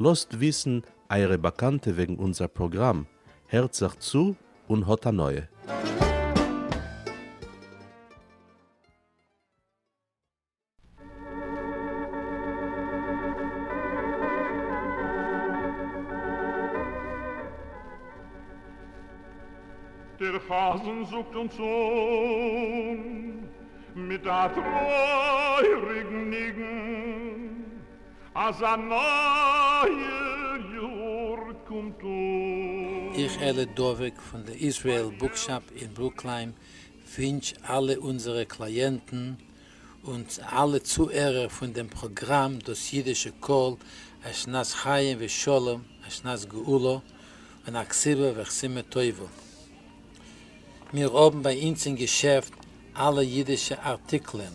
לאזט וויסן אייערע באקאנטע וועגן אונזער פראגראם, הערט זיך צו און האט הנאה! דער חזן זאגט אונז אן מיט א טרויעריגן ניגון. אז א נייער יאר קומט אן. איך אלי דבק פון די איזרעיל בוקשאפ אין ברוקליים ווינטש אלע אונזערע קלייענטן און אלע צוהערער פון דעם פראגראם דאס אידישע קול א שנת חיים ושלום א שנת גאולה און א כסלו וחסימה טובה מיר האבן ביי אונז אין געשעפט אלע אידישע ארטיקלען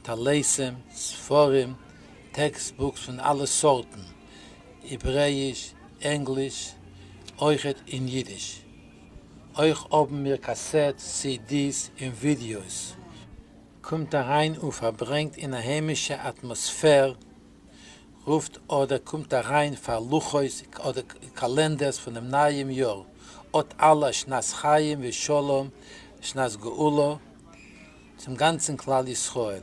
טלסים ספרים טעקסט בוקס פון אלע סארטן, העברעיש, ענגליש, אויכעט אין אידיש. אויך האבן מיר קאסעט סידיס און ווידיאוס. קומט אריין און פארברענגט אין א היימישע אטמאספער, רופט אדער קומט אריין פאר לוחות אדער קאלענדערס פונעם נייעם יאר, אט אלע שנת חיים ושלום שנת גאולה צום גאנצן כלל ישראל.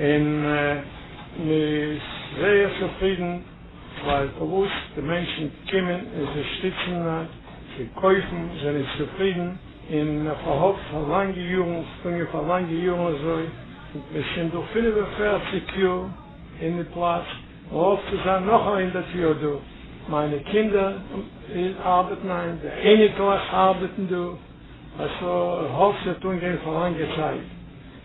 און מען איז זייער צופרידן ווייל פארוואס די מענטשן קומען און זיי שטיצן זיי קויפן זענען צופרידן און מען פארהאפט פאר לאנגע יארן טוהן מיר פאר לאנגע יארן אזוי מיר שוין דא פֿינף און פֿערציק יאר אין די פלאץ מען האפט צו זיין נאך א הונדערט יאר דא מיינע קינדער ארבעטן היינט די אייניקלעך ארבעטן דא אז איך האף ס'וועט אנגיין פאר לאנגע צייט.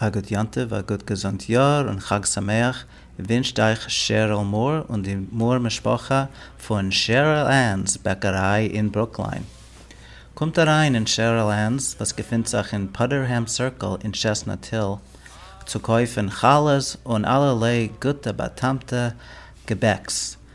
א גוט יום טוב, א גוט געזונט יאר און חג שמח ווינטשט אייך שעריל מאר און די מאר משפחה פון שעריל ענס בעקעריי אין ברוקליין. קומט אריין אין שעריל ענס וואס געפינט זיך אין פאדערהעם סירקל אין טשעסנאט היל צו קויפן חלות און אלערליי גוטע באטעמטע געבעקס.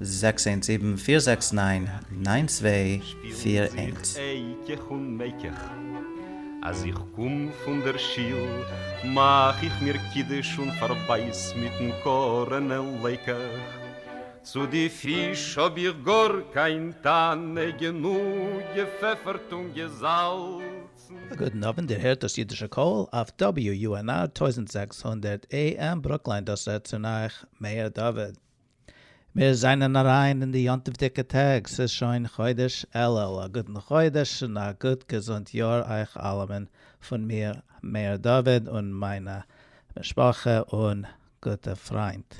זעקס איינס זיבן פיר זעקס ניין ניין צוויי פיר איינס. שפילן זיך איך און מעק איך. אז איך קום פון דער שיל מאך איך מיר קידוש און פארבייס מיטן קארענע לייק איך. צו די פיש האב איך גאר קיין טענה גענוג געפעפערט און געזאלצן. א גוטן אוונט, איר הערט דאס אידישע קול אויף WUNR טויזנט זעקס הונדערט AM ברוקלין, דאס רעדט צון אייך מאיר דוד. מיר זענען אריין אין די יום טוב'דיגע טעג, ס'איז שוין חודש אלול, א גוטן חודש און א גוט געזונט יאר אייך אלעמען פון מיר מאיר דוד און מיינע משפחה און גוטע פריינט,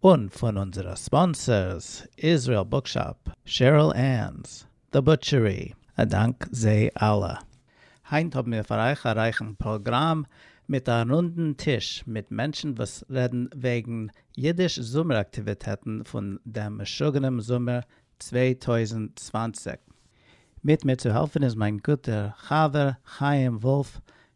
און פון אונזערע ספאנסערס, איזריעל בוקשאפ, שעריל ענס, דער בוטשערי, א דאנק זיי אלע. היינט האבן מיר פאר אייך א רייכן פראגראם מיט א רונדן טיש מיט מענטשן וואס רעדן וועגן אידיש זומער אקטיוויטעטן פון דעם משוגענעם זומער צוויי טויזנט צוואַנציק. מיט מיר צו העלפן איז מיין גוטער חבר חיים וואלף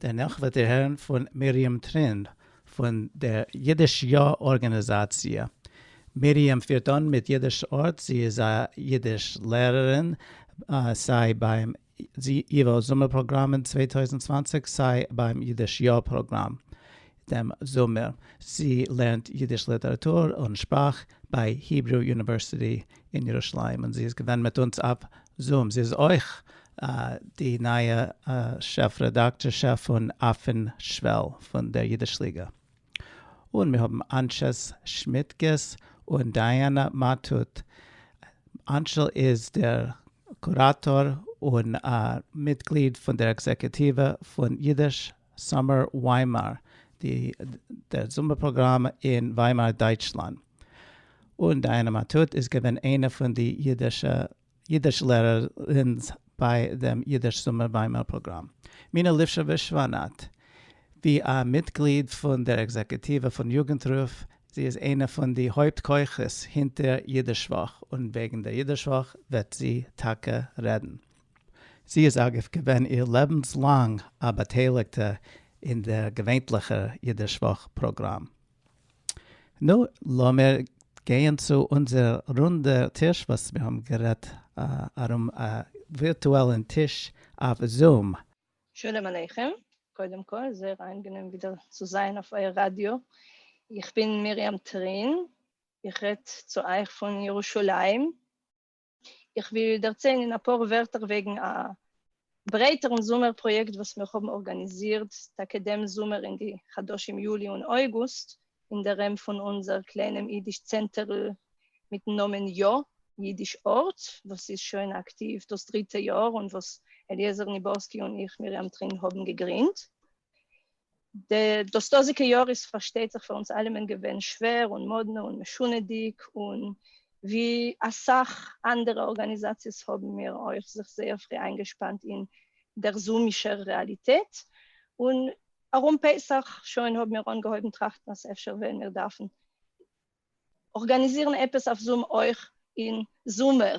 דערנאך וועט איר הערן פון מרים טרין פון דער אידיש יא ארגאניזאציע. מרים פירט אן מיט אידיש ארט, זי איז א אידיש לערערין סיי ביים ייווא זומער פראגראם אין צוויי טויזנט צוואַנציק סיי ביים אידיש יא פראגראם. דעם זומער. זי לערנט יידיש ליטעראטור און שפראך ביי היברו יוניווערסיטי אין ירושלים און זי איז געווען מיט אונז אויף זום. זי איז אויך די נייע שעף רעדאקטארשע פון אויפן שוועל פון דער יידיש ליגע. און מיר האבן אנשעס שמיטקעס און דייאנע מאטוט. אנשל איז דער קוראטאר און מיטגליד פון דער עקזעקוטיווע פון יידיש סאמער וויימאר, די דער זומער פראגראם אין וויימאר דייטשלאנד, און דייאנע מאטוט איז געווען איינע פון די אידישע אידיש לערערינס ביי דעם אידיש זומער וויימאר פראגראם. מינה ליפשאוויש-שוואנאט, ווי א מיטגליד פון דער עקזעקוטיווע פון יוגנטרוף, זי איז איינע פון די הויפט כוחות הינטער אידיש-וואך, און וועגן דער אידיש-וואך וועט זי טאקע רעדן. זי איז אגב געווען איר לעבנס לאנג א באטייליגטע אין דער געווענטליכער אידיש וואך פראגראם. נו, לאמיר גייען צו אונזער רונדע טיש וואס מיר האבן גערעדט ארום א ווירטועלן טיש אויף זום. שלום עליכם, קודם כל זייער איינגענעם ווידער צו זיין אויף אייער ראדיא, איך בין מרים טרין, איך רעד צו אייך פון ירושלים, איך וויל דערציילן אין אפאר ווערטער וועגן א ברייטערן זומער פראיעקט וואס מיר האבן ארגאניזירט טאקע דעם זומער אין די חדשים יולי און אויגוסט, אין די ראם פון אונזער קליינעם אידיש צענטערל מיטן נאמען יא! אידיש ארט, וואס איז שוין אקטיוו דאס דריטע יאר און וואס אליעזר ניבארסקי און איך מרים טרין האבן געגרינדט. דאס דאזיקע יאר איז פארשטייט זיך פאר אונז אלעמען געווען שווער און מאדנע און משונה'דיג, און ווי אסאך אנדערע ארגאניזאציעס האבן מיר אויך זיך זייער פרי איינגעשפאנט אין דער זומישער רעאליטעט, און ארום פסח שוין האבן מיר אנגעהויבן טראכטן אז אפשר וועלן מיר דארפן ארגאניזירן עפעס אויף זום אויך אין זומער,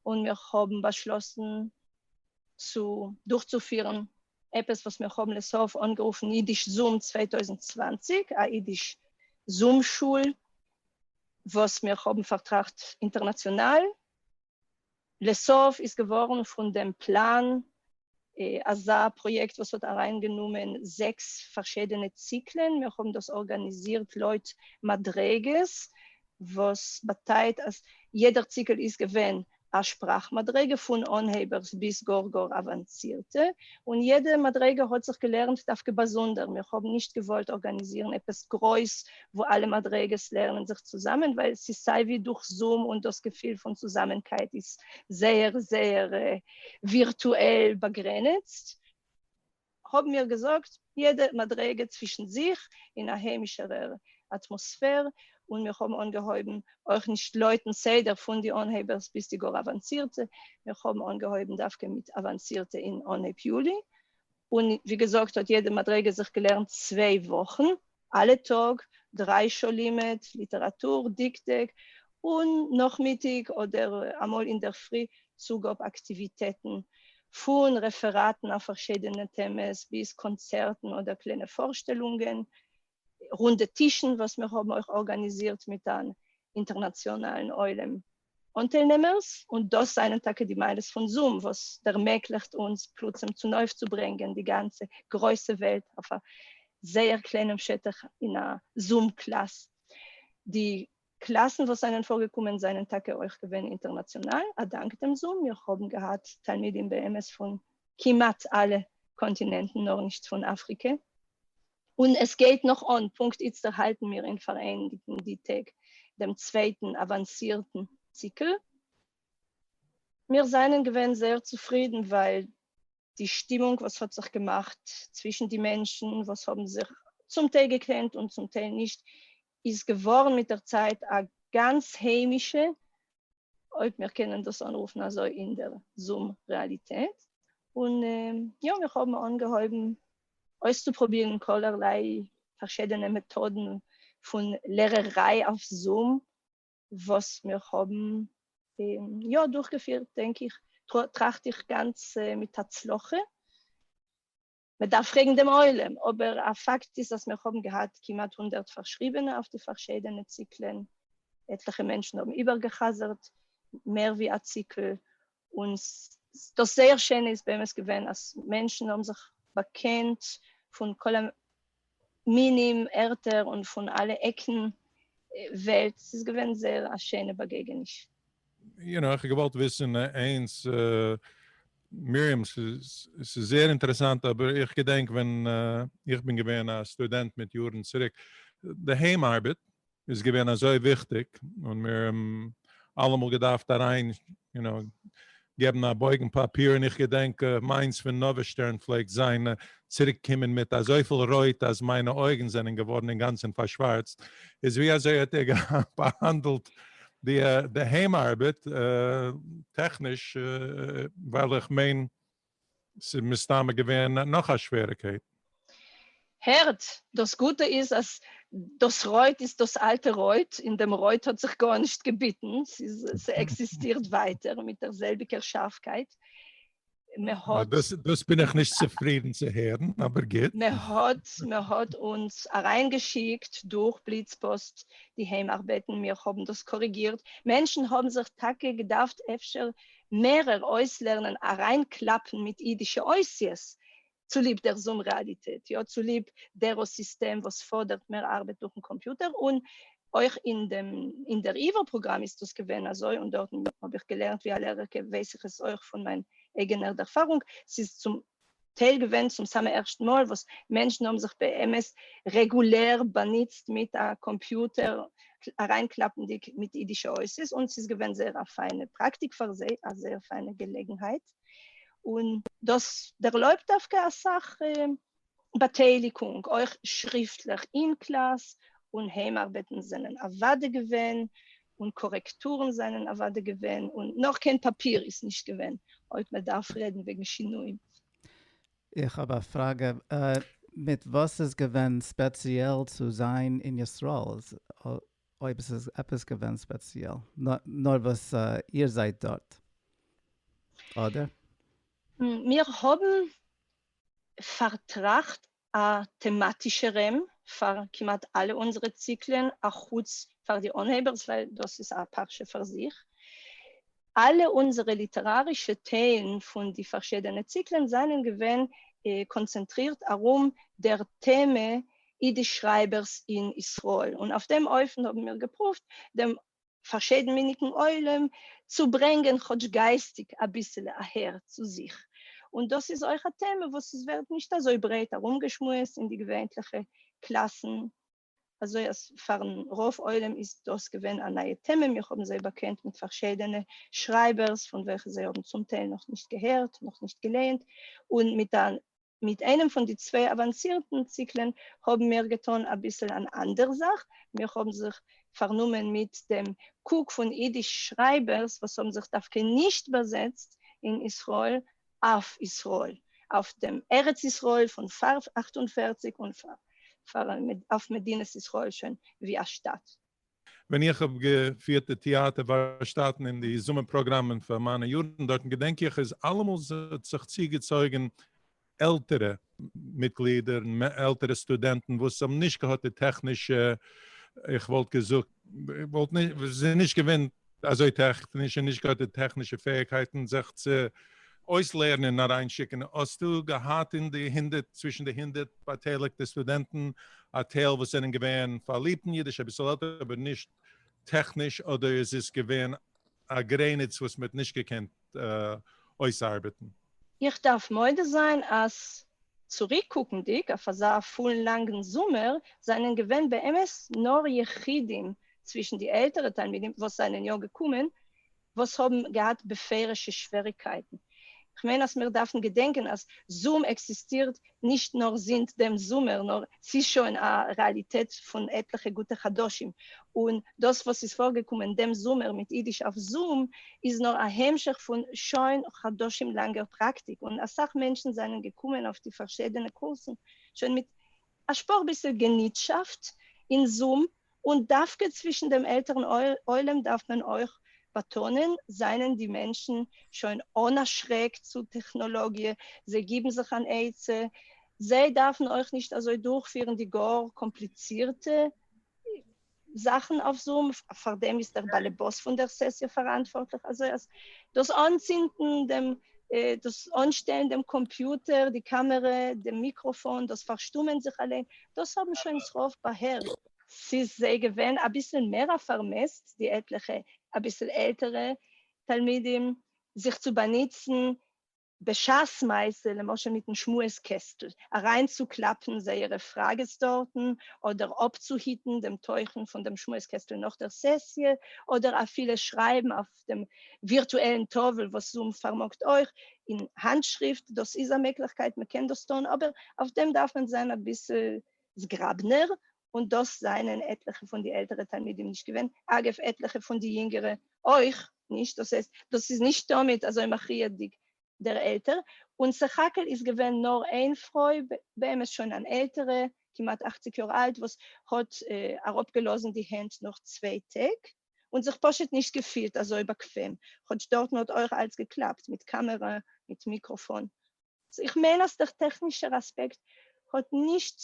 און מיר האבן באשלאסן צו דורכצופירן עפעס וואס מיר האבן לסוף אנגערופן אידיש זום צוויי טויזנט צוואַנציק, א אידיש זום שול וואס מיר האבן פארטראכט אינטערנאציאנאל, לסוף איז געווארן פון דעם פלאן אזא פראיעקט וואס האט אריינגענומען זעקס פארשידענע ציקלען, מיר האבן דאס ארגאניזירט לויט מדריגות, וואס באטייט אז יעדער ציקל איז געווען א שפראך מדריגה, פון אנהייבערס ביז גאר גאר אוואנצירטע, און יעדע מדריגה האט זיך געלערנט דווקא באזונדער, מיר האבן נישט געוואלט ארגאניזירן עפעס גרויס וואו אלע מדריגות לערנען זיך צוזאמען, ווייל ס'איז סיי ווי דורך זום און דאס געפיל פון צוזאמענקייט איז זייער זייער ווירטועל באגרעניצט, האבן מיר געזאגט יעדע מדריגה צווישן זיך אין א היימישערער אטמאספער, און מיר האבן אנגעהויבן אויך נישט לויטן סדר פון די אנהייבערס ביז די גאר אוואנסירטע, מיר האבן אנגעהויבן דווקא מיט אוואנסירטע אין אנהייב יולי, און ווי געזאגט האט יעדע מדריגה זיך געלערנט צוויי וואכן, אלע טאג דריי שעה לימוד ליטעראטור דקדוק, און נאכמיטאג אדער אמאל אינדערפרי צוגאב אקטיוויטעטן, פון רעפעראטן אויף פארשידענע טעמעס ביז קאנצערטן אדער קליינע פארשטעלונגען, רונדע טישן וואס מיר האבן אויך ארגאניזירט מיט אן אינטערנאציאנאלן עולם. אנטיילנעמערס, און דאס זענען טאקע די מעלות פון זום וואס ערמעגליכט אונז פלוצים צונויפצוברענגען די גאנצע גרויסע וועלט אויף א זייער קליינעם שטח אין א זום קלאס. די קלאסן וואס זענען פארגעקומען זענען טאקע אויך געווען אינטערנאציאנאל א דאנק דעם זום, מיר האבן געהאט תלמידים באמת פון כמעט אלע קאנטינענטן נאר נישט פון אפריקע, און עס גייט נאך אן, פונקט איצטער האלטן מיר אין פאראייניגן די טעג דעם צווייטן אוואנסירטן ציקל, מיר זענען געווען זייער צופרידן ווייל די שטימונג וואס האט זיך געמאכט צווישן די מענטשן וואס האבן זיך צום טייל געקענט און צום טייל נישט איז געווארן מיט דער צייט א גאנץ היימישע אויב מיר קענען דאס אנרופן אזוי אין דער זום רעאליטעט, און יא מיר האבן אנגעהויבן אויסצופרובירן כל'ערליי פארשידענע מעטאדן פון לערעריי אויף זום, וואס מיר האבן יא דורכגעפירט דענק איך, טראכט איך גאנץ מיט הצלחה. מען דארף פרעגן דעם עולם, אבער א פאקט איז אז מיר האבן געהאט כמעט הונדערט פארשריבענע אויף די פארשיידענע ציקלען, עטליכע מענטשן האבן איבערגע'חזר'ט מער ווי א ציקל, און דאס זייער שענע איז באמת געווען אז מענטשן האבן זיך באקענט פון כל מינים, ערטער און פון אלע עקן וועלט, ס'איז געווען זייער א שיינע באגעגעניש. יו נאו, איך האב געוואלט וויסן איינס, מרים, ס'איז זייער אינטערעסאנט, אבער איך געדענק ווען איך בין געווען א סטודענט מיט יארן צוריק, די היים ארבעט, איז געווען אזוי וויכטיג און מיר האבן אלעמאל געדארפט אריין יו נאו געבן א בויגן פאפיר און איך געדענק מיינס פון נאוה שטערן פלעגט זיין צוריק קומען מיט אזויפיל רויט אז מיינע אויגן זענען געווארן אינגאנצן פארשווארצט איז ווי אזוי האט ער באהאנדלט די די היים ארבעט טעכניש ווייל איך מיין ס'איז מסתמא געווען נאך א שוועריקייט. הערט, דאס גוטע איז אז דאס רויט איז דאס אלטע רויט, און דעם רויט האט זיך גארנישט געביטן, ס'עקזיסטירט ווייטער מיט דער זעלביגער שארפקייט, מען האט. דאס בין איך נישט צופרידן צו הערן, אבער גוט. מען האט, מען האט אונז אריינגעשיקט דורך בליץ פאסט די היים ארבעטן, מיר האבן דאס קאריגירט, מענטשן האבן זיך טאקע געדארפט אפשר מערער אויסלערנען אריינקלאפן מיט אידישע אויסיעס צוליב דער זום רעאליטעט, יא צוליב דער סיסטעם וואס פאדערט מער ארבעט דורכן קאמפיוטער, און אויך אין דעם אין דער עיוור פראגראם איז דאס געווען אזוי, און דארטן האב איך געלערנט ווי א לערערקע ווייס איך עס אויך פון מיין אייגענער ערפארונג, ס'איז צום טייל געווען צום סאמע ערשטן מאל וואס מענטשן האבן זיך באמת רעגולער באנוצט מיט א קאמפיוטער אריינקלאפנדיג מיט אידישע אותות, און ס'איז געווען זייער א פיינע פראקטיק פאר זיי, א זייער פיינע געלעגנהייט, און דאס ערלויבט דווקא אסאך באטייליגונג, אויך שריפטליך אין קלאס, און היים ארבעטן זענען אוודאי געווען און קארעקטורן זענען אוואדע געווען, און נאך קיין פאפיר איז נישט געווען, אויב מען דארף רעדן וועגן שינויים. איך האב א פראגע, מיט וואס איז געווען ספעציעל צו זיין אין ישראל, אויב עס איז עפעס געווען ספעציעל, נאר וואס איר זייט דארט, אדער? מיר האבן פארטראכט א טעמאטישע רעם פאר כמעט אלע אונזערע ציקלען א חוץ פאר די אנהייבערס ווייל דאס איז א פרשה פאר זיך. אלע אונזערע ליטערארישע טיילן פון די פארשידענע ציקלען זענען געווען קאנצענטרירט ארום דער טעמע אידיש שרייבערס אין ישראל און אויף דעם אופן האבן מיר געפרואווט דעם פארשיידענמיניגן עולם צו ברענגען כאטש גייסטיג אביסעלע אהער צו זיך, און דאס איז אויך א טעמע וואס עס ווערט נישט אזוי ברייט ארומגעשמועסט אין די געווענטליכע קלאסן, אזוי אז פארן רוב עולם איז דאס געווען א נייע טעמע, מיר האבן זיי באקענט מיט פארשיידענע שרייבערס פון וועלכע זיי האבן צום טייל נאכנישט געהערט, נאכנישט געלייענט, און מיט א מיט איינעם פון די צוויי אוואנסירטן ציקלען האבן מיר געטון אביסל אן אנדער זאך, מיר האבן זיך פארנומען מיט דעם קוק פון אידיש שרייבערס וואס האבן זיך דווקא נישט באזעצט אין ישראל אויף ישראל, אויף דעם ארץ ישראל פון פאר אַכט און פֿערציק און אויף מדינת ישראל שוין ווי א שטאַט. ווען איך האב געפירט די טעאטער ווארשטאטן און די זומער פראגראמען פאר מיינע יארן דארטן געדענק איך איז אלעמאל ס'האט זיך צוגעצויגן עלטערע מיטגלידער, עלטערע סטודענטן וואס האבן נישט געהאט די טעכנישע, איך וואלט געזאגט, וואלט נישט, ס'איז נישט געווען אזוי טעכניש און נישט געהאט די טעכנישע פעאיגקייטן זיך צו אויסלערנען און אריינשיקן, האסטו געהאט אין די הונדערט, צווישן די הונדערט באטייליגטע סטודענטן א טייל וואס זענען געווען פארליבט אין אידיש, אביסל עלטער אבער נישט טעכניש, אדער איז עס געווען א גרעניץ וואס מען האט נישט געקענט אויסארבעטן. איך דארף מודה זיין אז צוריקקוקנדיג אויף אזא פולן לאנגן זומער זענען געווען באמת נאר יחידים צווישן די עלטערע תלמידים וואס זענען יא געקומען וואס האבן געהאט בפירוש'ע שוועריקייטן. כ'מיין אז מיר דארפן געדענקען אז זום עקזיסטירט נישט נאר זינט דעם זומער, נאר ס'איז שוין א רעאליטעט פון עטליכע גוטע חדשים, און דאס וואס איז פארגעקומען דעם זומער מיט אידיש אויף זום, איז נאר א המשך פון שוין חדשים לאנגער פראקטיק, און אסאך מענטשן זענען געקומען אויף די פארשידענע קורסן שוין מיט א שפאר ביסל געניטשאפט אין זום, און דווקא צווישן דעם עלטערן עולם דארף מען אויך באטאנען, זענען די מענטשן שוין אן א שרעק צו טעכנאלאגיע, זיי גיבן זיך אן עצה, זיי דארפן אויך נישט אזוי דורכפירן די גאר קאמפליצירטע זאכן אויף זום, פארדעם איז דער באלעבאס פון דער סעסיע פאראנטווארטליך, אזוי אז דאס אנצינדן דעם דאס אנשטעלן דעם קאמפיוטער, די קאמערע, דעם מיקראפאן, דאס פארשטומען זיך אליין, דאס האבן שוין ס רוב באהערט. ס'איז זיי געווען אביסל מער א פארמעסט די עטליכע אביסל עלטערע תלמידים זיך צו באנוצן בשעת מעשה למשל מיטן שמועס קעסטל אריינצוקלאפן זייערע פראגעס דארטן אדער אפצוהיטן דעם תוכן פון דעם שמועס קעסטל נאך דער סעסיע אדער אפילו שרייבן אויף אויף דעם ווירטועלן טאוול וואס זום פארמאגט אויך אין האנטשריפט, דאס איז א מעגליכקייט מען קען דאס טון, אבער אויף דעם דארף מען זיין אביסל זגראבנער, און דאס זענען עטליכע פון די עלטערע תלמידים נישט געווען, אגב עטליכע פון די יונגערע אויך נישט, דאס הייסט דאס איז נישט תמיד אזוי מכריעדיג דער עלטער, און סך הכל איז געווען נאר איין פרוי, באמת שוין אן עלטערע, כמעט אכציג יאר אלט, וואס האט אראפגעלאזן די הענט נאך צוויי טעג. און זיך פשוט נישט געפילט אזוי באקוועם, כאטש דארטן האט אויך אלץ געקלאפט מיט קאמערע מיט מיקראפאן, סאו איך מיין אז דער טעכנישער אספעקט האט נישט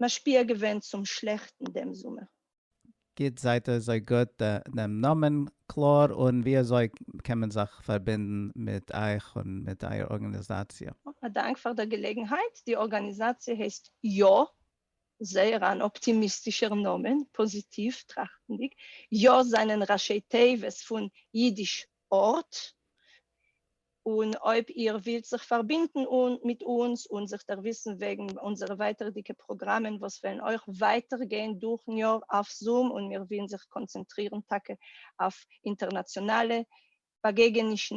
משפיע געווען צום שלעכטן דעם זומער. גוט, זייט אזוי גוט דעם נאמען קלאר און ווי אזוי קען מען זיך פארבינדן מיט אייך און מיט אייער ארגאניזאציע? א דאנק פאר דער געלעגנהייט, די ארגאניזאציע הייסט יא זייער אן אפטימיסטישער נאמען, פאזיטיוו טראכטנדיג, יא זענען ראשי תיבות פון אידיש ארט, און אויב איר ווילט זיך פארבינדן מיט אונז און זיך דערוויסן וועגן אונזערע ווייטערדיגע פראגראמען וואס וועלן אויך ווייטער גיין דורכן יאר אויף זום און מיר ווילן זיך קאנצענטרירן טאקע אויף אינטערנאציאנאלע באגעגענישן,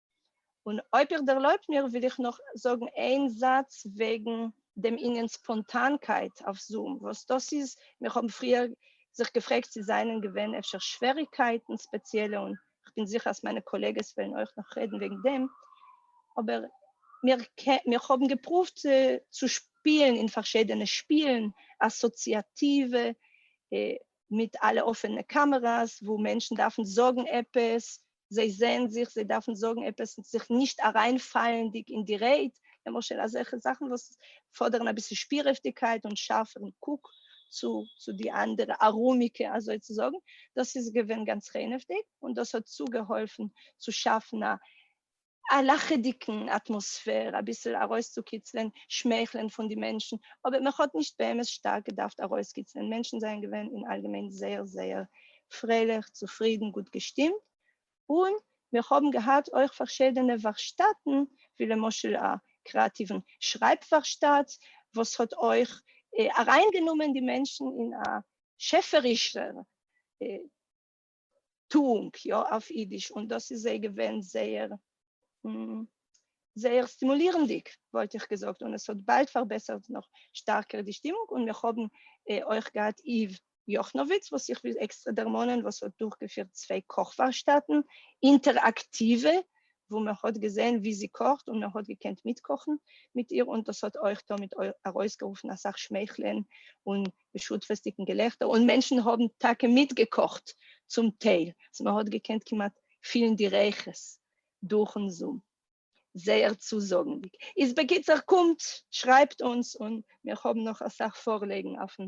און אויב איר ערלויבט מיר וויל איך נאך זאגן איין זאץ וועגן דעם ענין ספאנטאנקייט אויף זום, וואס דאס איז, מיר האבן פריער זיך געפרעגט צו זענען געווען אפשר שוועריגקייטן ספעציעלע, און כ'בין זיכער אז מיינע קאלעגעס וועלן אויך נאך רעדן וועגן דעם, אבער מיר מיר האבן געפרואווט צו שפילן אין פארשידענע שפילן, אסאציאטיווע, מיט אלע אפענע קאמעראס, וואו מענטשן דארפן זאגן עפעס זיי זעהן זיך, זיי דארפן זאגן עפעס זיך נישט אריינפאלנדיג אין די רייד, למשל אזעלכע זאכן וואס פאדערן אביסל שפירעפטיגקייט און שארפערן קוק צו צו די אנדערע ארומיגע אזוי צו זאגן, דאס איז געווען גאנץ רענעוודיג און דאס האט צוגעהאלפן צו שאפן א א לאכעדיגן אטמאספער, אביסל ארויסצוקיצלען שמייכלען פון די מענטשן, אבער מען האט נישט באמת שטארק געדארפט ארויסקיצלען, מענטשן זענען געווען אין אלגעמיין זייער זייער פרייליך, צופרידן, גוט געשטימט, און מיר האבן געהאט אויך פארשיעדענע ווארשטאטן, ווי למשל א קריאטיוון שרייב ווארשטאט, וואס האט אויך אריינגענומען די מענטשן אין א שעפערישער טוענג יא אויף אידיש און דאס איז זיי געווען זייער זייער סטימולירענדיג וואלט איך געזאגט און עס האט באלד פארבעסערט נאך שטארקער די שטימונג און מיר האבן אויך געהאט איוו יאכנאוויץ וואס איך וויל עקסטרע דערמאנען וואס האט דורכגעפירט צוויי קאך ווארשטאטן אינטעראקטיווע וואו מען האט געזען ווי זי קאכט און מען האט געקענט מיטקאכן מיט איר און דאס האט אויך תמיד ארויסגערופן אסאך שמייכלען און בשותפות'דיגן געלעכטער, און מענטשן האבן טאקע מיטגעקאכט צום טייל, אז מען האט געקענט כמעט פילן די ריחות דורכ'ן זום. זייער צוזאגנדיג. איז בקיצור, קומט, שרייבט אונז, און מיר האבן נאך אסאך פארלעגן אויפ'ן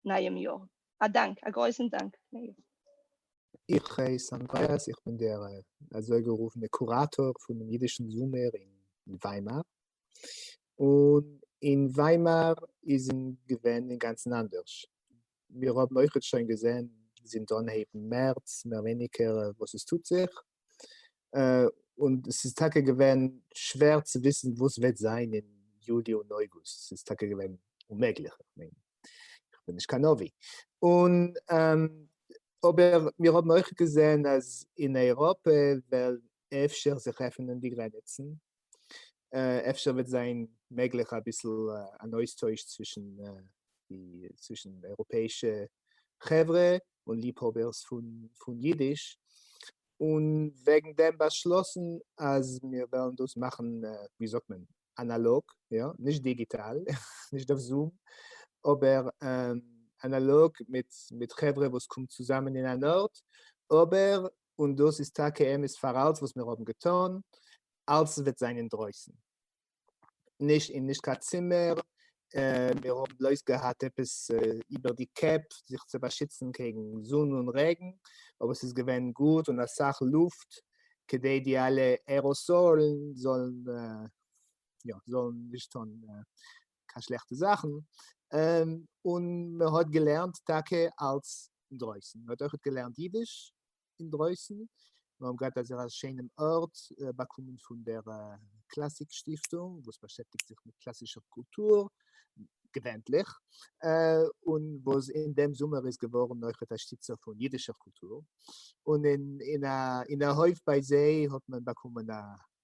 נייעם יאר. א דאנק, א גרויסן דאנק, מאיר. איך הייס אנדרעאס, איך בין דער אזוי גערופענע קוראטאר פונעם אידישן זומער אין וויימאר, און אין וויימאר איז אין געווען אינגאנצן אנדערש, מיר האבן אויכעט שוין געזען זינט אנהייבן מערץ מער ווייניגער וואס עס טוט זיך, און עס איז טאקע געווען שווער צו וויסן וואס וועט זיין אין יולי און אוגוסט, עס איז טאקע געווען אוממעגליך, איך מיין איך בין נישט קיין נביא, און אבער מיר האבן אויכעט געזען אז אין אייראפע וועלן אפשר זיך עפענען די גרעניצן, אפשר וועט זיין מעגליך אביסל אן אויסטויש צווישן די צווישן אייראפעאישע חברה און ליבהאבערס פון פון אידיש, און וועגן דעם באשלאסן אז מיר וועלן דאס מאכן ווי זאגט מען אנאלאג, יא, נישט דיגיטאל, נישט אויף זום, אבער אנאלאג מיט מיט חברה וואס קומט צוזאמען אין אן ארט, אבער און דאס איז טאקע אמת פאר אלץ וואס מיר האבן געטאן, אלץ וועט זיין אינדרויסן, נישט אין נישט קיין צימער, מיר האבן בלויז געהאט עפעס איבער די קעפ זיך צו באשיצן קעגן זון און רעגן, אבער ס'איז געווען גוט און אסאך לופט כדי די אלע עראסאלן זאלן יא זאלן נישט טון קיין שלעכטע זאכן, און מען האט געלערנט טאקע אלץ אינדרויסן, מען האט אויכעט געלערנט אידיש אינדרויסן, מיר האבן געהאט אזא שיינעם ארט באקומען פון דער קלאסיק שטיפטונג וואס באשעפטיגט זיך מיט קלאסישער קולטור, געווענטליך, און וואס אין דעם זומער איז געווארן אויכעט א שטיצער פון אידישער קולטור, און אין א הויף ביי זיי האט מען באקומען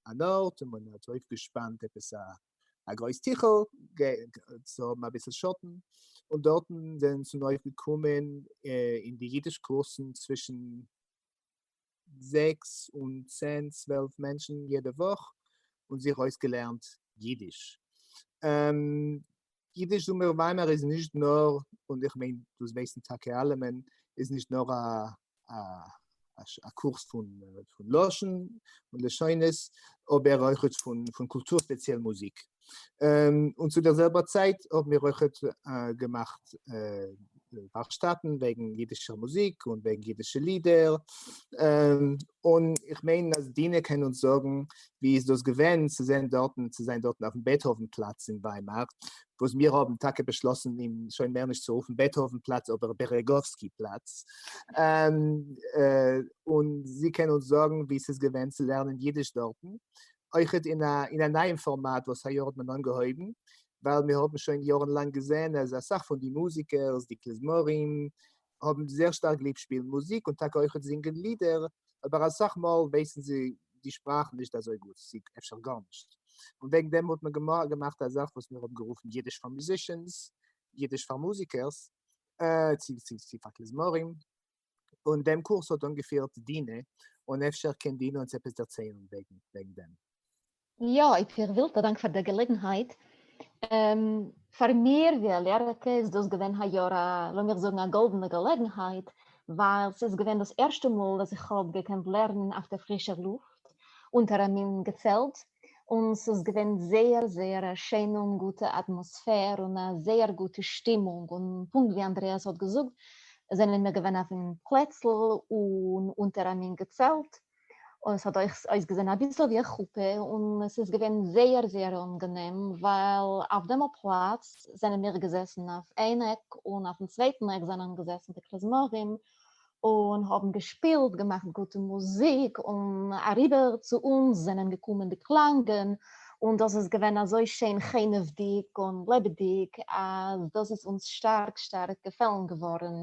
אן ארט און מען האט אויפגעשפאנט עפעס א א גרויס טיכל צו האבן אביסל שאטן, און דארטן זענען צו נאר געקומען אין די אידיש קורסן צווישן זעקס און צען צוועלף מענטשן יעדע וואך און זיך אויסגעלערנט אידיש. אידיש זומער וויימער איז נישט נאר, און איך מיין דאס ווייסן טאקע אלע מען, איז נישט נאר א קורס פון לשון און לשונות, אבער אויכעט פון קולטור ספעציעל מוזיק. און צו דער זעלבער צייט האבן מיר אויכעט געמאכט ווארקשטאטן וועגן אידישער מוזיק און וועגן אידישע לידער, און איך מיין אז דינה קען אונז זאגן ווי איז דאס געווען צו זען דארטן צו זיין דארטן אויפן בעטהאווען פלאץ אין וויימאר, וואס מיר האבן טאקע באשלאסן אים שוין מער נישט צו רופן בעטהאווען פלאץ אבער בערעגאווסקי פלאץ, און זי קען אונז זאגן ווי ס'איז געווען צו לערנען אידיש דארטן, אויכעט אין א אין א נייעם פארמאט וואס היי יאר האט מען אנגעהויבן, ווייל מיר האבן שוין יארן לאנג געזען אז אסאך פון די מוזיקערס, די כלזמרים, האבן זייער שטארק ליב שפילן מוזיק און טאקע אויכעט זינגען לידער, אבער אסאך מאל ווייסן זיי די שפראך נישט אזוי גוט, צי אפשר גארנישט. און וועגן דעם האט מען געמאכט א זאך וואס מיר האבן גערופן אידיש פאר מוזישענס, אידיש פאר מוזיקערס, צי פאר כלזמרים. און דעם קורס האט אנגעפירט דינה, און אפשר קען דינה אונז עפעס דערציילן וועגן דעם. יא, אויב איר ווילט, א דאנק פאר דער געלעגנהייט. פאר מיר ווי א לערערקע איז דאס געווען היי יאר א, לאמיר זאגן, א גאלדענע געלעגנהייט, ווייל ס'איז געווען דאס ערשטע מאל וואס איך האב געקענט לערנען אויף דער פרישער לופט, אונטער א מין געצעלט, און ס'איז געווען זייער זייער א שיינע און גוטע אטמאספער, און א זייער גוטע שטימונג, און פונקט ווי אנדרעאס האט געזאגט, זענען מיר געווען אויפ'ן פלעצל און אונטער א מין געצעלט, און עס האט אויך אויסגעזען אביסל ווי א חופה, און עס איז געווען זייער זייער אנגענעם, ווייל אויף דעם פלאץ זענען מיר געזעסן אויף איין עק, און אויפן צווייטן עק זענען געזעסן די כלזמרים, און האבן געשפילט, געמאכט גוטע מוזיק, און אריבער צו אונז זענען געקומען די קלאנגען, און דאס איז געווען אזוי שיין חנ'עוודיג און לעבעדיג, אז דאס איז אונז שטארק שטארק געפעלן געווארן,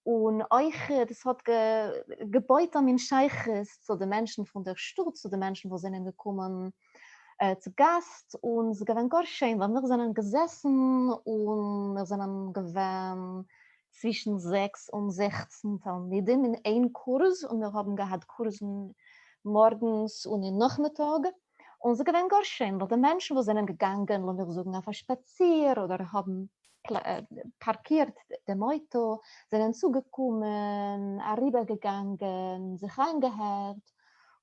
און אויך דאס האט געבויט א מין שייכות צו די מענטשן פון דער שטאט, צו די מענטשן וואס זענען געקומען צו גאסט, און עס איז געווען גאר שיין ווייל מיר זענען געזעסן און מיר זענען געווען צווישן זעקס און זעכצן תלמידים אין איין קורס, און מיר האבן געהאט קורסן מארגנס און אין נאכמיטאג. און ס'איז געווען גאר שיין ווייל די מענטשן וואס זענען געגאנגען לאמיך זאגן אויף א שפאציר אדער האבן פארקירט דעם אויטא זענען צוגעקומען, אריבערגעגאנגען, זיך איינגעהערט,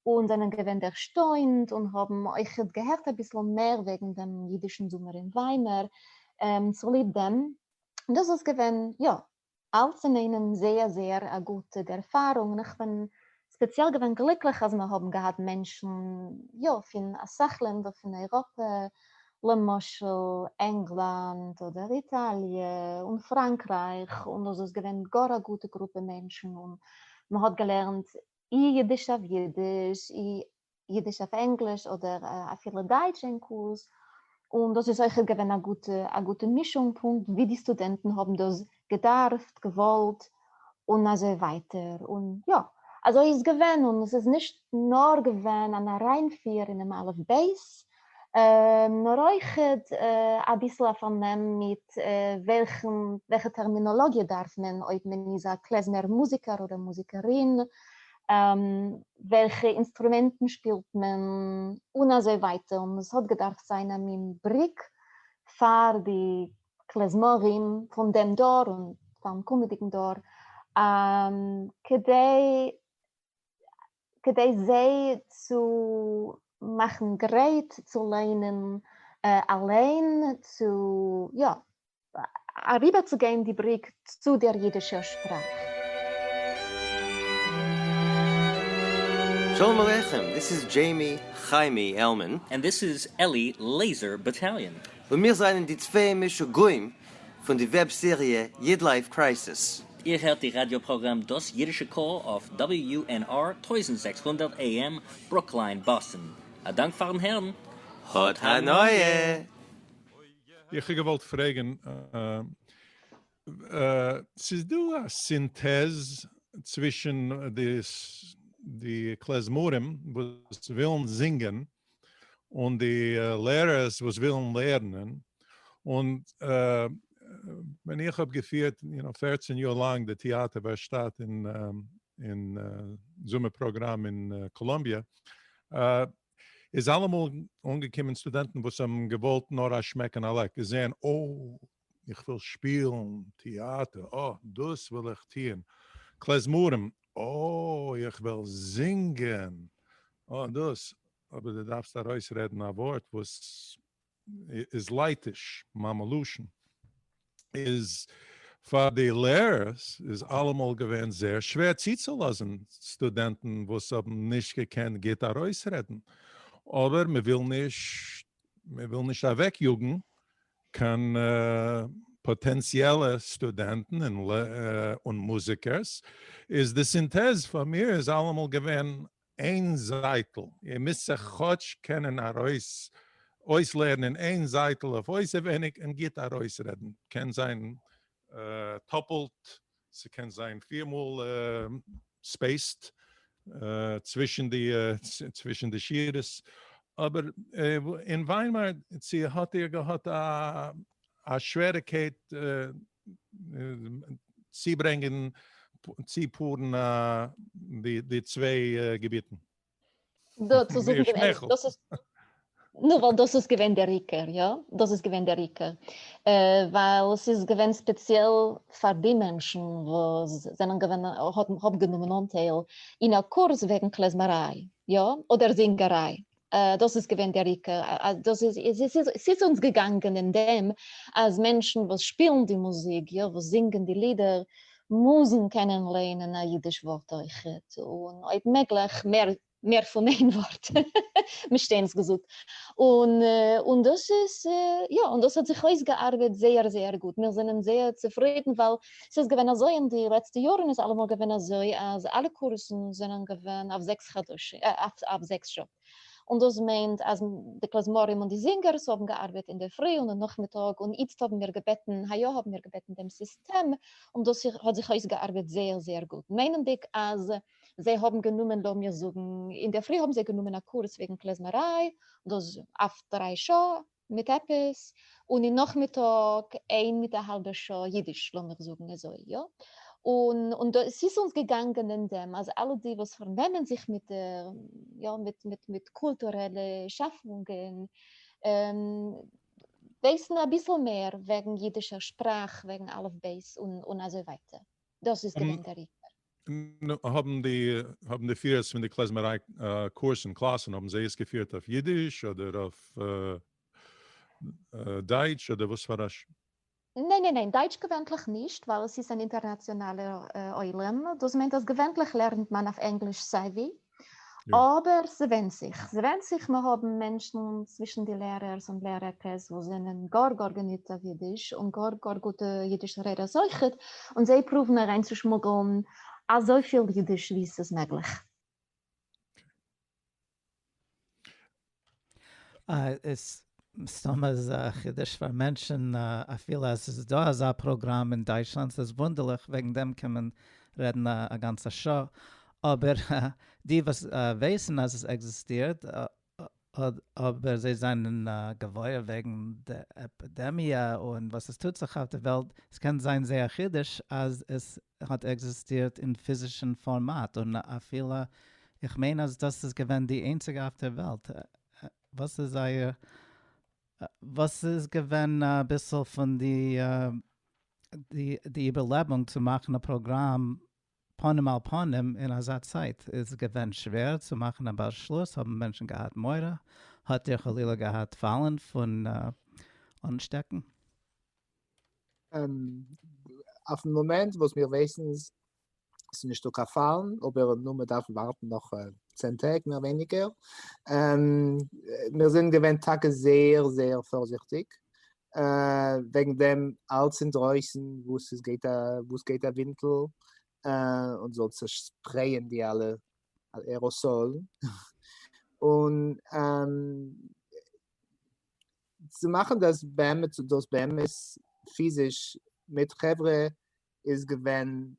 און זענען געווען ערשטוינט און האבן אויכעט געהערט אביסל מער וועגן דעם אידישן זומער אין וויימער צוליב דעם, דאס איז געווען יא אלץ אינאיינעם זייער זייער א גוטע ערפארונג און איך בין ספעציעל געווען גליקליך אז מיר האבן געהאט מענטשן יא פון אסאך לענדער פון אייראפע למשל ענגלאנד אדער איטאליע און פראנקרייך און דאס איז געווען גאר א גוטע גרופע מענטשן און מען האט געלערנט אי אידיש אויף אידיש אי אידיש אויף ענגליש אדער אפילו דייטש אין קורס, און דאס איז אויכעט געווען א גוטע א גוטע מישונג פונקט ווי די סטודענטן האבן דאס געדארפט, געוואלט, און אזוי ווייטער, און יא, אזוי איז געווען, און עס איז נישט נאר געווען אן אריינפיר אינעם אלף בית, נאר אויך אביסל א פארנעם מיט וועלכע טערמינאלאגיע דארף מען אויב מען איז א קלעזמער מוזיקער אדער מוזיקערין, וועלכע אינסטרומענטן שפילט מען, און אזוי ווייטער, און עס האט געדארפט זיין א מין בריק פאר די קלעזמארים פון דעם דור און פארן קומעדיגן דור כדי כדי זיי צו מאכן גרייט צו ליינען אליין, צו יא, אריבערצוגיין די בריק צו דער אידישער שפראך. שלום עליכם, דיס איז דזשעימי חיימי עלמען. און דיס איז עלי לעיזער באטאליאן. און מיר זענען די צוויי משוגעים פון די וועב סעריע איד לייף קרייסיס. איר הערט די ראדיא פראגראם דאס אידישע קול אויף WUNR טויזנט זעקס הונדערט AM ברוקליין באסטן. א דאנק פארן הערן. האט הנאה! איך האב געוואלט פרעגן, ס'איז דא א סינטעז צווישן די קלעזמארים וואס ווילן זינגען און די לערערס וואס ווילן לערנען, און ווען איך האב געפירט יו נאו פערצן יאר לאנג די טעאטער ווערשטאט אין זומער פראגראם אין קאלאמביע, איז אלעמאל אנגעקומען סטודענטן וואס האבן געוואלט נאר א שמעק און א לעק, זעהן, אוי! איך וויל שפילן טעאטער, אָה, דאָס וויל איך טוען. קלעזמאָרים, אָה, איך וויל זינגען, אָה, דאָס. אָבער דו דאַרפסט אַרויסרעדן אַ וואָרט וואָס איז לייטיש, מאַמע-לשון. איז פאַר די לערערס איז אַלעמאָל געווען זעהר שווער צוצולאָזן סטודענטן וואָס האָבן נישט געקענט גוט אַרויסרעדן, אָבער מען וויל נישט מען וויל נישט אוועק יאגן קיין פאטענציעלע סטודענטן און מוזיקערס, איז די סינטעז פאר מיר איז אלעמאל געווען איין זייטל, איר מוזט זיך כאטש קענען ארויס אויסלערנען איין זייטל אויף אויסעווייניג און גוט ארויסרעדן, קען זיין טאפלט ס'קען זיין פֿיר מאל ספעיסט צווישן די צווישן די שורות, אבער אין וויימאר צו האט איר געהאט א שוועריקייט צוברענגען צופארן די צוויי געביטן? דאס איז געווען דער עיקר, יא, נו, ווייל דאס איז געווען דער עיקר, יא, דאס איז געווען דער עיקר, ווייל עס איז געווען ספעציעל פאר די מענטשן וואס זענען געווען, האבן גענומען אנטייל אין א קורס וועגן קלעזמעריי, יא, אדער זינגעריי, דאס איז געווען דער עיקר, דאס איז, עס איז אונז געגאנגען אין דעם אז מענטשן וואס שפילן די מוזיק, יא, וואס זינגען די לידער, מוזן קענען לערנען א אידיש ווארט אויכעט, און אויב מעגליך מער מער פון איין ווארט, מ'שטענס געזאגט, און און דאס איז יא, און דאס האט זיך אויסגעארבעט זייער זייער גוט, מיר זענען זייער צופרידן, ווייל ס'איז געווען אזוי אין די לעצטע יארן איז אלעמאל געווען אזוי אז אלע קורסן זענען געווען אויף זעקס חדשים, אויף זעקס שעה. און דאס מיינט אז די כלזמרים און די זינגערס האבן געארבעט אינדערפרי און און נאכמיטאג און איצט האבן מיר געבעטן היי יאר האבן מיר געבעטן דעם סיסטעם און דאס האט זיך אויסגעארבעט זייער זייער גוט מיינענדיג אז זיי האבן גענומען לאמיר זאגן אינדערפרי האבן זיי גענומען א קורס וועגן כלזמריי דאס אויף דריי שעה מיט עפעס, און אין נאכמיטאג איין מיט א האלבע שעה אידיש, לאמיר זאגן אזוי, יא? און און דאס ס'איז אונז געגאנגען אין דעם אז אלע די וואס פארנעמען זיך מיט יא מיט מיט מיט קולטורעלע שאפונגען ווייסן אביסל מער וועגן אידישער שפראך, וועגן אלף בית און און אזוי ווייטער, דאס איז געווען דער עיקר. נו, האבן די, האבן די פירערס פון די קלעזמעריי קורסן, קלאסן, האבן זיי עס געפירט אויף אידיש אדער אויף דייטש אדער וואס פאר א ש. ניין ניין ניין, דייטש געווענטליך נישט, ווייל עס איז אן אינטערנאציאנאלער עולם, דאס מיינט אז געווענטליך לערנט מען אויף ענגליש סיי ווי, אבער ס'ווענד זיך, ס'ווענד זיך, מיר האבן מענטשן צווישן די לערערס און לערערקעס וואס זענען גאר גאר געניט אויף אידיש, און גאר גאר גוטע אידישע רעדערס אויכעט, און זיי פרואוון אריינצושמוגלן אזויפיל אידיש ווי ס'איז מעגליך. איז מסתמא איז א חידוש פאר מענטשן אפילו אז ס'איז דא אזא פראגראם אין דייטשלאנד, ס'איז וואונדערליך, וועגן דעם קען מען רעדן א גאנצע שעה, אבער די וואס ווייסן אז עס עקזיסטירט אבער זיי זענען געוואויר וועגן די עפידעמיע און וואס עס טוט זיך אויף די וועלט, עס קען זיין זייער חידוש אז עס האט עקזיסטירט אין פיזישן פארמאט און אפילו איך מיין אז דאס איז געווען די איינציגע אויף דער וועלט וואס איז זייער וואס איז געווען אביסל פון די די איבערלעבונג צו מאכן א פראגראם פנים אל פנים אין אזא צייט איז געווען שווער צו מאכן א באשלוס האבן מענטשן געהאט מורא האט איר חלילה געהאט פאלן פון אנשטעקן? אויפן מאמענט וואס מיר ווייסן איז ס'איז נישטא קיין פאלן, אבער נו מ'דארף ווארטן נאך צען טעג מער ווייניגער, מיר זענען געווען טאקע זייער זייער פארזיכטיג וועגן דעם, אלץ אינדרויסן וואס עס גייט א וואס עס גייט א ווינטל און זאל צעשפרעיען די אלע עראסאלן, און. צו מאכן דאס באמת צו דאס באמת פיזיש מיט חברה איז געווען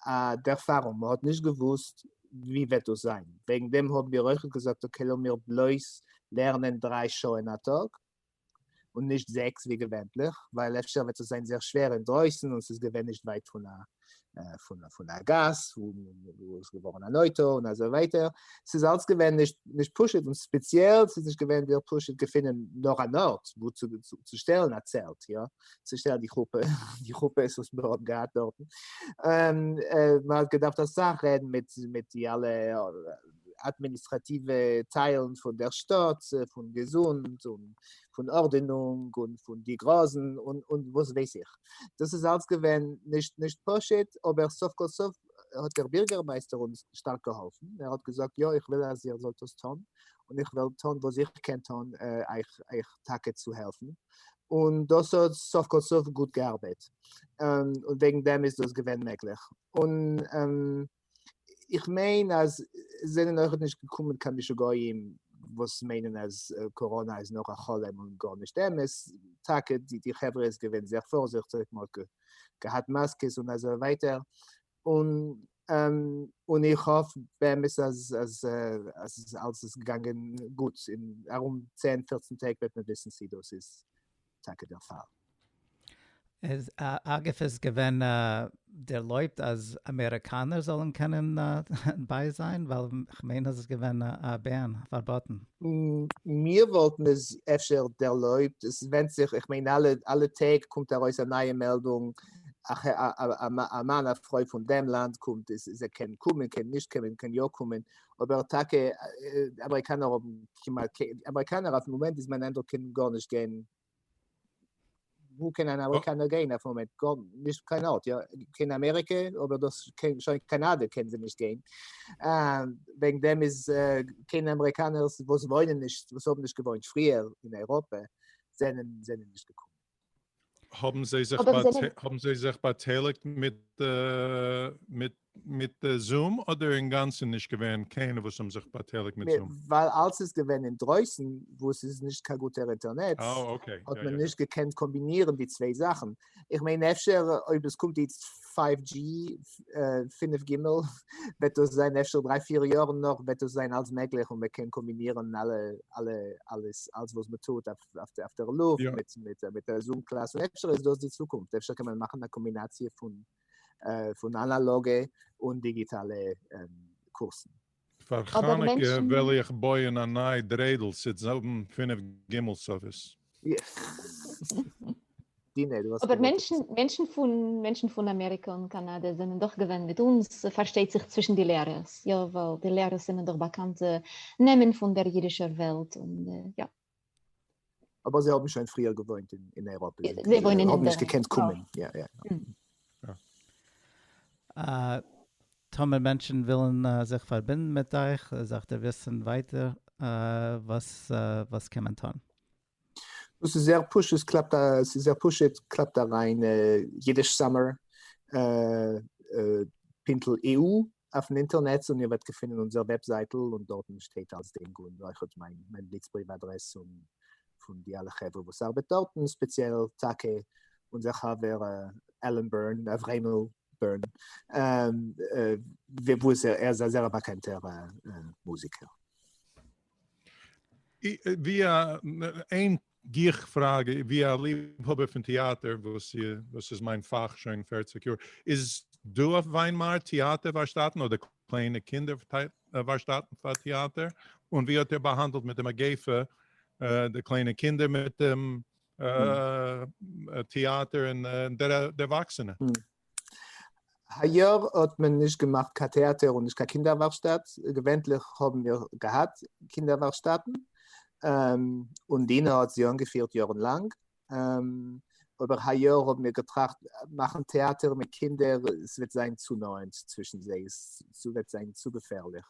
א ערפארונג, מען האט נישט געוואוסט ווי וועט דאס זיין, וועגן דעם האבן מיר אויך געזאגט אקעי לאמיר בלויז לערנען דריי שעה אין א טאג, און נישט זעקס ווי געווענליך, ווייל אפשר וועט עס זיין זייער שווער אינדרויסן און ס'איז געווען נישט ווייט פון א פון א גאס וואו עס געווארן אן אויטא און אזוי ווייטער, ס'איז אלס געווען נישט פשוט און ספעציעל ס'איז נישט געווען דיר פשוט געפינען נאך אן ארט וואו צו שטעלן א צעלט יא, צו שטעלן די חופה, די חופות וואס מען האט געהאט דארטן, מען האט געדארפט אסאך רעדן מיט די אלע אדמיניסטראטיווע טיילן פון דער שטאט, פון געזונט און פון ארדענונג און פון די גראזן און וואס ווייס איך. דאס איז אלס געווען נישט נישט פשוט, אבער סוף כל סוף האט דער בירגערמייסטער אונז שטארק געהאלפן, ער האט געזאגט יא איך וויל אז איר זאלט עס טון, און איך וועל טון וואס איך קען טון אייך אייך טאקע צו העלפן, און דאס האט סוף כל סוף גוט געארבעט, און וועגן דעם איז דאס געווען מעגליך, און. איך מיין אז עס זענען אויכעט נישט געקומען קיין משוגעים וואס מיינען אז קאראנא איז נאר א חלום און גארנישט אמת, טאקע די חברה איז געווען זייער פארזיכטיג, מען האט געהאט מאסקעס און אזוי ווייטער, און איך האף באמת אז אלעס איז געגאנגען גוט, און ארום צען פֿערצן טעג וועט מען וויסן צי דאס איז טאקע דער פאל. אגב איז געווען ערלויבט אז אמעריקאנער זאלן קענען ביי זיין? ווייל כ'מיין אז עס איז געווען א בען, פארבאטן. מיר וואלטן עס אפשר ערלויבט, עס ווענדט זיך, איך מיין אלע טעג קומט ארויס א נייע מעלדונג, א מאן א פרוי פון דעם לאנד קומט, זיי קענען קומען, קענען נישט קומען, קענען יא קומען, אבער טאקע אמעריקאנער האבן כמעט קיין, אמעריקאנער אויפן מאמענט איז מיין איינדרוק קען גארנישט גיין, וואו קען אן אמעריקאנער גיין אויפן מאמענט, נישט קיין ארט, יא קען אמעריקע אבער דאס קען שוין קאנאדע קען זיי נישט גיין, וועגן דעם איז קען אמעריקאנערס וואס וואוינען נישט וואס האבן נישט געוואוינט פריער אין אייראפע זענען זענען נישט געקומען. האבן זיי זיך אבער זיי באט- האבן זיי זיך באטייליגט מיט אה, מיט מיט זום אדער אינגאנצן נישט געווען קיינער וואס האבן זיך באטייליגט מיט מיר- זום? ווייל אלס איז געווען אינדרויסן וואו עס איז נישט קיין גוטער אינטערנעץ אה אוקיי, האט יא מען יא יא. נישט געקענט קאמבינירן די צוויי זאכן. איך מיין אפשר אויב עס קומט איצט פייוו דזשי, פֿינף ג', וועט דאס זיין אפשר דריי פיר יארן נאך וועט דאס זיין אלס מעגליך און מען קען קאמבינירן אלע אלע אלעס אלס וואס מען טוט אויף אויף דער לופט מיט א זום קלאס, און אפשר איז דאס די צוקונפט, אפשר קען מען מאכן א קאמבינאציע פון אנאלאגע און דיגיטאלע קורסן. פאר חנוכה וועל איך בויען א נייע דריידל ס'עט האבן פֿינף גימעל סערוויס. אבער מענטשן פון אמעריקע און קאנאדע זענען דאך געווען מיט אונז, פארשטייט זיך צווישן די לערערס, יא, ווייל די לערערס זענען דאך באקאנטע נעמען פון דער אידישער וועלט, און יא. אבער זיי האבן שוין פריער געוואוינט אין אייראפע, זיי וואוינען אין די, האבן נישט געקענט קומען, יא יא. טאמער מענטשן ווילן זיך פארבינדן מיט אייך, זאלסטו וויסן ווייטער וואס קען מען טון. דאס איז זייער פשוט, קלאפט א, ס'איז זייער פשוט, קלאפט אריין אידיש סאממער, פינטל EU, אויפן אינטערנעץ און איר וועט געפינען אונזער וועבזייטל און דארטן שטייט אלס דעם גרונד און אויך מיין מיין בליץ בריוו אדרעס און פון די אלע חברה וואס ארבעט דארטן ספעציעל טאקע אונזער חבר עלען בערן אברעמל בערן וואס ער איז א זייער באקאנטער מוזיקער. ווי א איין גיך פראגע, ווי א ליבהאבער פון טעאטער וואס איז מיין פאך שוין פערציג יאר, איז דא אויף וויינמארט טעאטער ווארשטאטן אדער קליינע קינדער ווארשטאטן פאר טעאטער? און ווי האט ער באהאנדלט מיט די מגיפה די קליינע קינדער מיט דעם טעאטער און די ערוואקסענע? היי יאר האט מען נישט געמאכט קיין טעאטער און נישט קיין קינדער ווארקשטאט, געווענטליך האבן מיר געהאט קינדער ווארקשטאטן, און דינה האט זי אנגעפירט יארן לאנג, אבער היי יאר האבן מיר געטראכט מאכן טעאטער מיט קינדער עס וועט זיין צו נאענט צווישן זיי, עס וועט זיין צו געפערליך,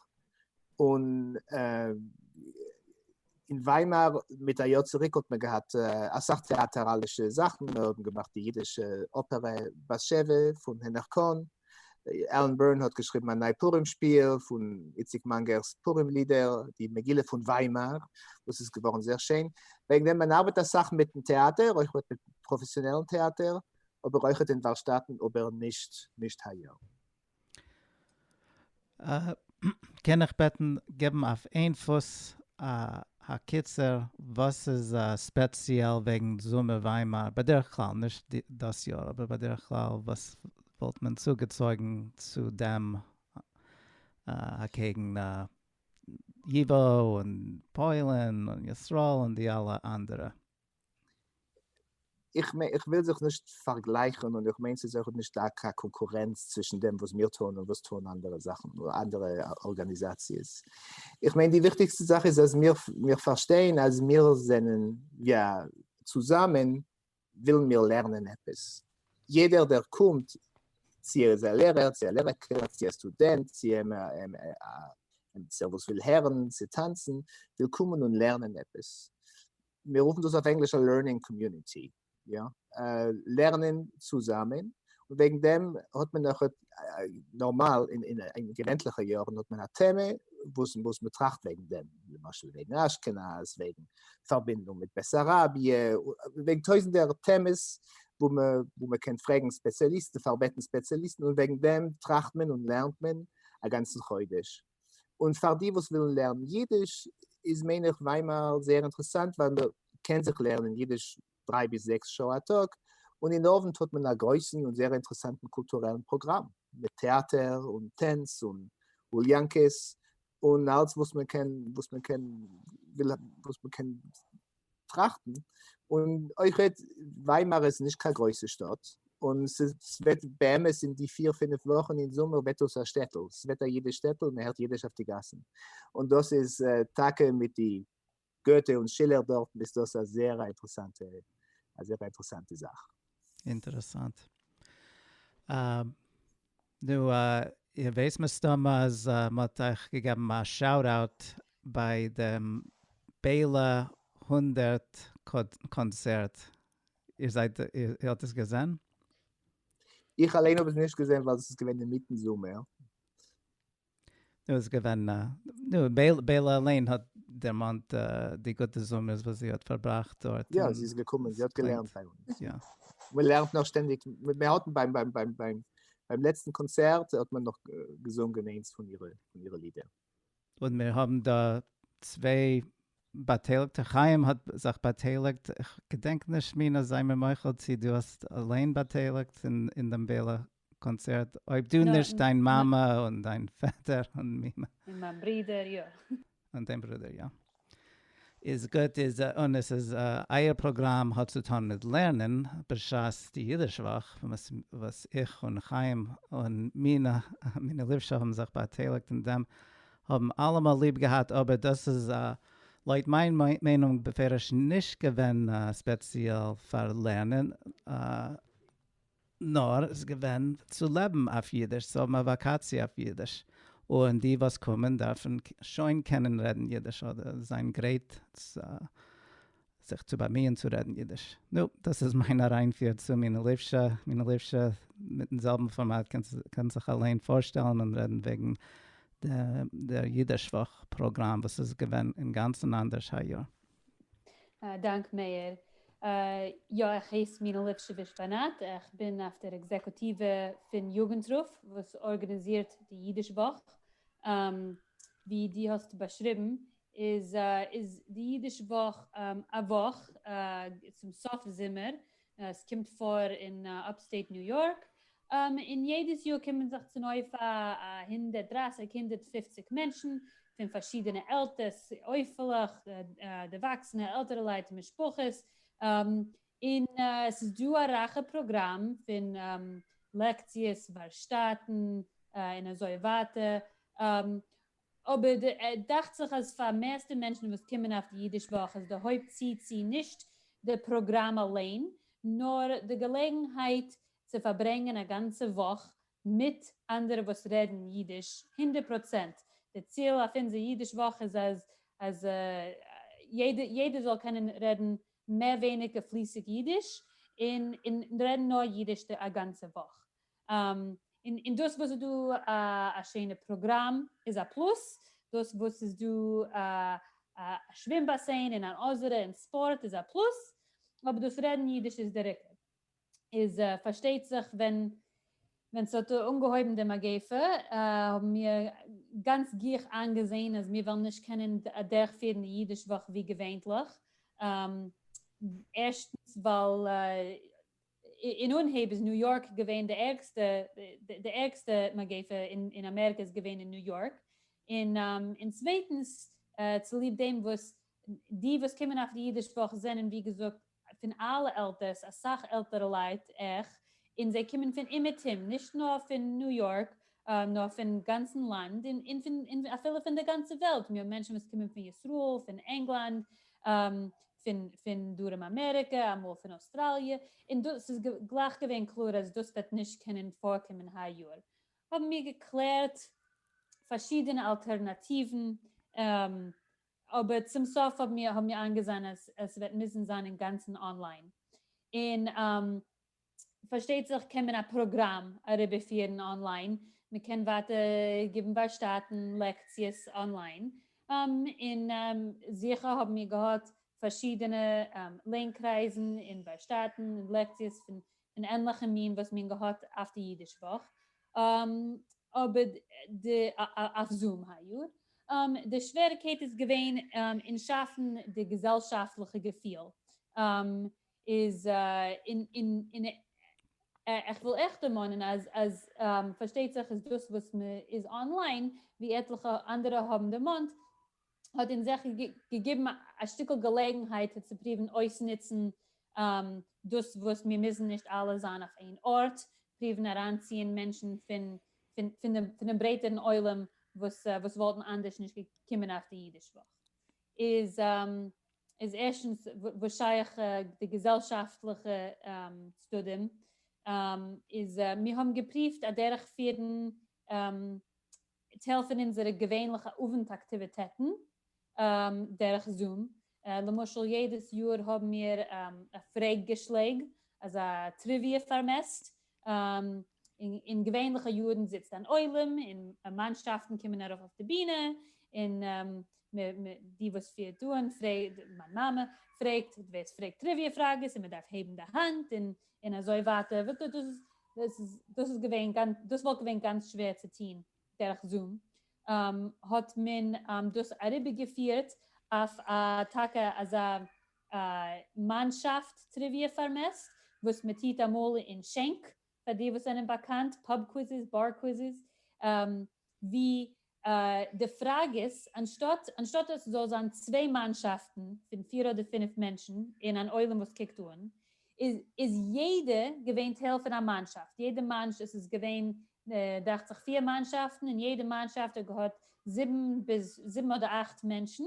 און אין וויימאר מיט א יאר צוריק האט מען געהאט אסאך טעאטעראלישע זאכן, מיר האבן געמאכט די אידישע אפערע בת שבע פון הענעך קאהן, עלען בירן האט געשריבן א ניי פורים שפיל פון איציק מאנגער'ס פורים לידער, די מגילה פון וויימאר וואס איז געווארן זייער שיין, וועגן דעם מען ארבעט אסאך מיטן טעאטער, אויך מיטן פראפעסיאנעלן טעאטער, אבער אויכעט אין וואלשטאטן, אבער נישט נישט היי יאר. קען איך בעטן געבן אויף איין פוס א הקיצור וואס איז ספעציעל וועגן זומער וויימאר בדרך כלל, נישט דאס יאר אבער בדרך כלל, וואס וואלט מען צוגעצויגן צו דעם אקעגן ייווא און פוילן און ישראל און די אלע אנדערע? איך מיין, איך וויל זיך נישט פארגלייכן און איך מיין ס'איז אויך נישט דא קיין קאנקורענץ צווישן דעם וואס מיר טוען און וואס טוען אנדערע זאכן, אנדערע ארגאניזאציעס. איך מיין די וויכטיגסטע זאך איז אז מיר, מיר פארשטייען אז מיר זענען, יא, צוזאמען ווילן מיר לערנען עפעס. יעדער דער קומט, צו ער איז א לערער, צו א לערער קעגנער, צו א סטודענט, צו עמיצער וואס וויל הערן, צו טאנצן, וויל קומען און לערנען עפעס. מיר רופן דאס אויף ענגליש א לערנינג קאמיוניטי, יא, לערנען צוזאמען, און וועגן דעם האט מען אויך נארמאל אין געווענטליכע יארן האט מען א טעמע וואס וואס מען טראכט וועגן דעם, למשל וועגן אשכנז, וועגן פארבינדונג מיט בעסאראביע, וועגן טויזנטער טעמעס וואו מען וואו מען קען פרעגן ספעציאליסטן, פארבעטן ספעציאליסטן, און וועגן דעם טראכט מען און לערנט מען א גאנצן חודש. און פאר די וואס ווילן לערנען אידיש איז מיין איך וויימאר זייער אינטערעסאנט ווייל מען קען זיך לערנען אידיש דריי ביז זעקס שעה א טאג, און אין אוונט האט מען א גרויסן און זייער אינטערעסאנטן קולטורעלן פראגראם מיט טעאטער און טענץ און אוליאנקעס און אלץ וואס מען קען וואס מען קען וויל וואס מען קען טראכטן, און אויך וועט וויימאר איז נישט קיין גרויסע שטאט, און ס'וועט באמת אין די פיר פינף וואכן אין זומער וועט דאס א שטעטל, ס'וועט א אידיש שטעטל, מען הערט אידיש אויף די גאסן, און דאס איז טאקע מיט די גוטע און שילער דארטן איז דאס א זעהר א אינטערעסאנטע א זעהר אינטערעסאנטע זאך. אינטערעסאנט. נו, איר ווייסט מסתמא אז מ'האט אייך געגעבן א שאוט אוט ביי דעם בעלא הונדערט קאנצערט, איר זייט, איר האט עס געזען? איך אליין האב עס נישט געזען ווייל עס איז געווען אינמיטן זומער. נו איז געווען א. נו בעלא אליין האט דערמאנט די גוטע זומערס וואס זי האט פארבראכט דארט. יא זי איז געקומען זי האט געלערנט ביי אונז. יא. מען לערנט נאך שטענדיג, מען האט ביים ביים ביים ביים ביים לעצטן קאנצערט האט מען נאך געזונגען איינס פון אירע פון אירע לידער. און מיר האבן דא צוויי באטייליגטע, חיים האט זיך באטייליגט, כ'געדענק נישט מינא זיי מיר מוחל צי דו האסט אליין באטייליגט אין דעם בעלא קאנצערט אויב דו נישט דיין מאמע און דיין פעטער און מימע. און מיין ברודער יא. און דיין ברודער יא. איז גוט איז און עס איז אייער פראגראם האט צו טון מיט לערנען בשעת די אידיש וואך וואס איך און חיים און מינה מינה ליפשא האבן זיך באטייליגט אין דעם האבן אלעמאל ליב געהאט אבער דאס איז לויט מיין מיינונג בפירוש נישט געווען ספעציעל פאר לערנען. נאר ס'איז געווען צו לעבן אויף אידיש, צו האבן א וואקאציע אויף אידיש, און די וואס קומען דארפן שוין קענען רעדן אידיש אדער זיין גרייט זיך צו באמיען צו רעדן אידיש. נו, דאס איז מיין אריינפיר צו מינא ליפשא. מינא ליפשא, מיטן זעלבן פארמאט קען זיך אליין פארשטעלן און רעדן וועגן דער אידיש וואך פראגראם וואס איז געווען אינגאנצן אנדערש היי יאר. דאנק מאיר. יא, איך הייס מינה ליפשיביש באנעט, איך בין אויף דער עקזעקוטיווע פון יוגנטרוף וואס ארגאניזירט די אידיש וואך. ווי דו האסט באשריבן איז די אידיש וואך א וואך צום סוף זומער עס קומט פאר אין אפסטעיט ניו יארק, און יעדעס יאר קומען זיך צונויף א הונדערט דרײַסיק, הונדערט פֿופֿציק מענטשן, פון פארשידענע עלטערס, עופה'לעך, דערוואקסענע, עלטערעלייט, משפחות, און עס איז דא א רייכע פראגראם פון לעקציעס, ווארשטאטן, און אזוי ווייטער. אבער דאכט זיך אז פאר מערסטע מענטשן וואס קומען אויף די אידיש וואך איז די הויפט צי צי נישט די פראגראם אליין נאר די געלעגנהייט צו פארברענגען א גאנצע וואך מיט אנדערע וואס רעדן אידיש הונדערט פראצענט די ציל אויף אונזער אידיש וואך איז אז אז יעדער זאל קענען רעדן מער ווייניגער פליסיג אידיש און רעדן נאר אידיש א גאנצע וואך און דאס וואס איז דא א שענע פראגראם איז א פלוס, דאס וואס איז דא א שווים באסען און אן אזערע און ספארט איז א פלוס, אבער דאס רעדן אידיש איז דער עיקר. איז פארשטייט זיך ווען ווען ס'האט אנגעהויבן די מגיפה האבן מיר גאנץ גיך איינגעזען אז מיר וועלן נישט קענען אדערכפירן די אידיש וואך ווי געווענטליך, ערשטנס ווייל אין אנהייב איז ניו יארק געווען די ערגסטע, די ערגסטע מגיפה אין אמעריקע איז געווען אין ניו יארק, און צווייטנס צוליב דעם וואס די וואס קומען אויף די אידיש וואך זענען ווי געזאגט פון אלע עלטערס, אסאך עלטערע לייט, עכ, און זיי קומען פון אומעטום, נישט נאר פון ניו יארק, נאר פון גאנצן לאנד און פון אפילו פון די גאנצע וועלט, מיר האבן מענטשן וואס קומען פון ישראל, פון ענגלאנד, פון פון דרום אמעריקע, אמאל פון אויסטראליע, און דאס ס'איז גלייך געווען קלאר אז דאס וועט נישט קענען פארקומען היי יאר, האבן מיר געקלערט פארשידענע אלטערנאטיוון, אבער צום סוף האבן מיר איינגעזען אז עס וועט מוזן זיין אינגאנצן אנליין, און פארשטייט זיך קען מען א פראגראם אריבערפירן אנליין, מען קען ווייטער גיבן ווארשטאטן לעקציעס אנליין, און זיכער האבן מיר געהאט פארשידענע לערן קרייזן און ווארשטאטן און לעקציעס פון ענליכע מין וואס מיר האבן געהאט אויף די אידיש וואך אבער די אויף זום היי יאר, די שוועריקייט איז געווען אין שאפן די געזעלשאפטליכע געפיל איז אין איך וויל אייך דערמאנען אז אז פארשטייט זיך איז דאס וואס מען איז אנליין ווי עטליכע אנדערע האבן דערמאנט האט אונז אייך געגעבן א שטיקל געלעגנהייט צו פריוון אויסנוצן דאס וואס מיר מוזן נישט אלע זיין אויף איין ארט, פריוון אריינציען מענטשן פון דעם ברייטערן עולם וואס וואלטן אנדערש נישט געקומען אויף די אידיש וואך. איז איז ערשטנס וואס שייך די געזעלשאפטליכע צדדים, איז מיר האבן געפריווט אדערך פירן טייל פון אונזערע געווענליכע אווענט אקטיוויטעטן דערך זום, למשל יעדעס יאר האבן מיר א פרעג געשלעג, אזא טריוויע פארמעסט, אין געווענליכע יארן זיצט אן עולם און מאנשאפטן קומען ארויף אויף די בינע, און די וואס פירט אן, מיין מאמע, פרעגט ווער עס פרעגט טריוויע פראגעס און מען דארף הייבן די האנט און אזוי ווייטער, דאס איז געווען, דאס וואלט געווען גאנץ שווער צו טון דורך זום, האט מען דאס אריבערגעפירט אויף א טאקע אזא א מאנשאפט טריוויע פארמעסט וואס מען טוט אמאל אין שענק, פאר די וואס זענען באקאנט, פאב קוויזעס, באר קוויזעס, ווי די פראגעס, אנשטאט אנשטאט עס זאל זיין צוויי מאנשאפטן פון פיר אדער פינף מענטשן און אן עולם וואס קוקט אן, איז איז יעדע געווען טייל פון א מאנשאפט, יעדע מאנש עס איז געווען דאכט זיך פיר מאנשאפטן און יעדע מאנשאפט האט געהאט זיבן ביז זיבן אדער אכט מענטשן,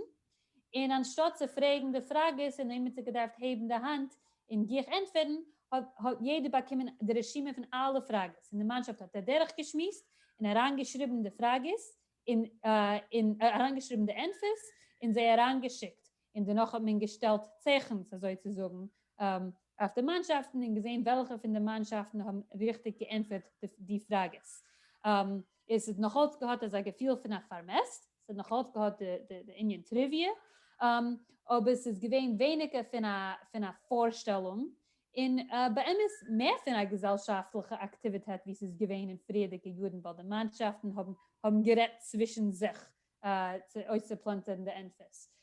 און אנשטאט צו פרעגן די פראגעס און איינמאל ס'האט געדארפט הייבן די האנט און גיך ענטפערן האט יעדער באקומען די רשימה פון אלע פראגעס און די מאנשאפט האט אדורך געשמועסט און אריין געשריבן די פראגעס און און אריין געשריבן די ענטפערס און זיי אריין געשיקט און דערנאך האט מען געשטעלט צעכנס אזוי צו זאגן אויף די מאנשאפטן און געזען וועלכע פון די מאנשאפטן האבן ריכטיג געענטפערט די פראגעס. עס האט נאך אלץ געהאט אזא געפיל פון א פארמעסט, עס האט נאך אלץ געהאט די ענין טריוויע, אבער ס'איז געווען ווייניגער פון א פארשטעלונג, און באמת מער פון א געזעלשאפטליכע אקטיוויטעט ווי ס'איז געווען אין פריערדיגע יארן ווייל די מאנשאפטן האבן גערעדט צווישן זיך אויסצופלאנטערן די ענפערס.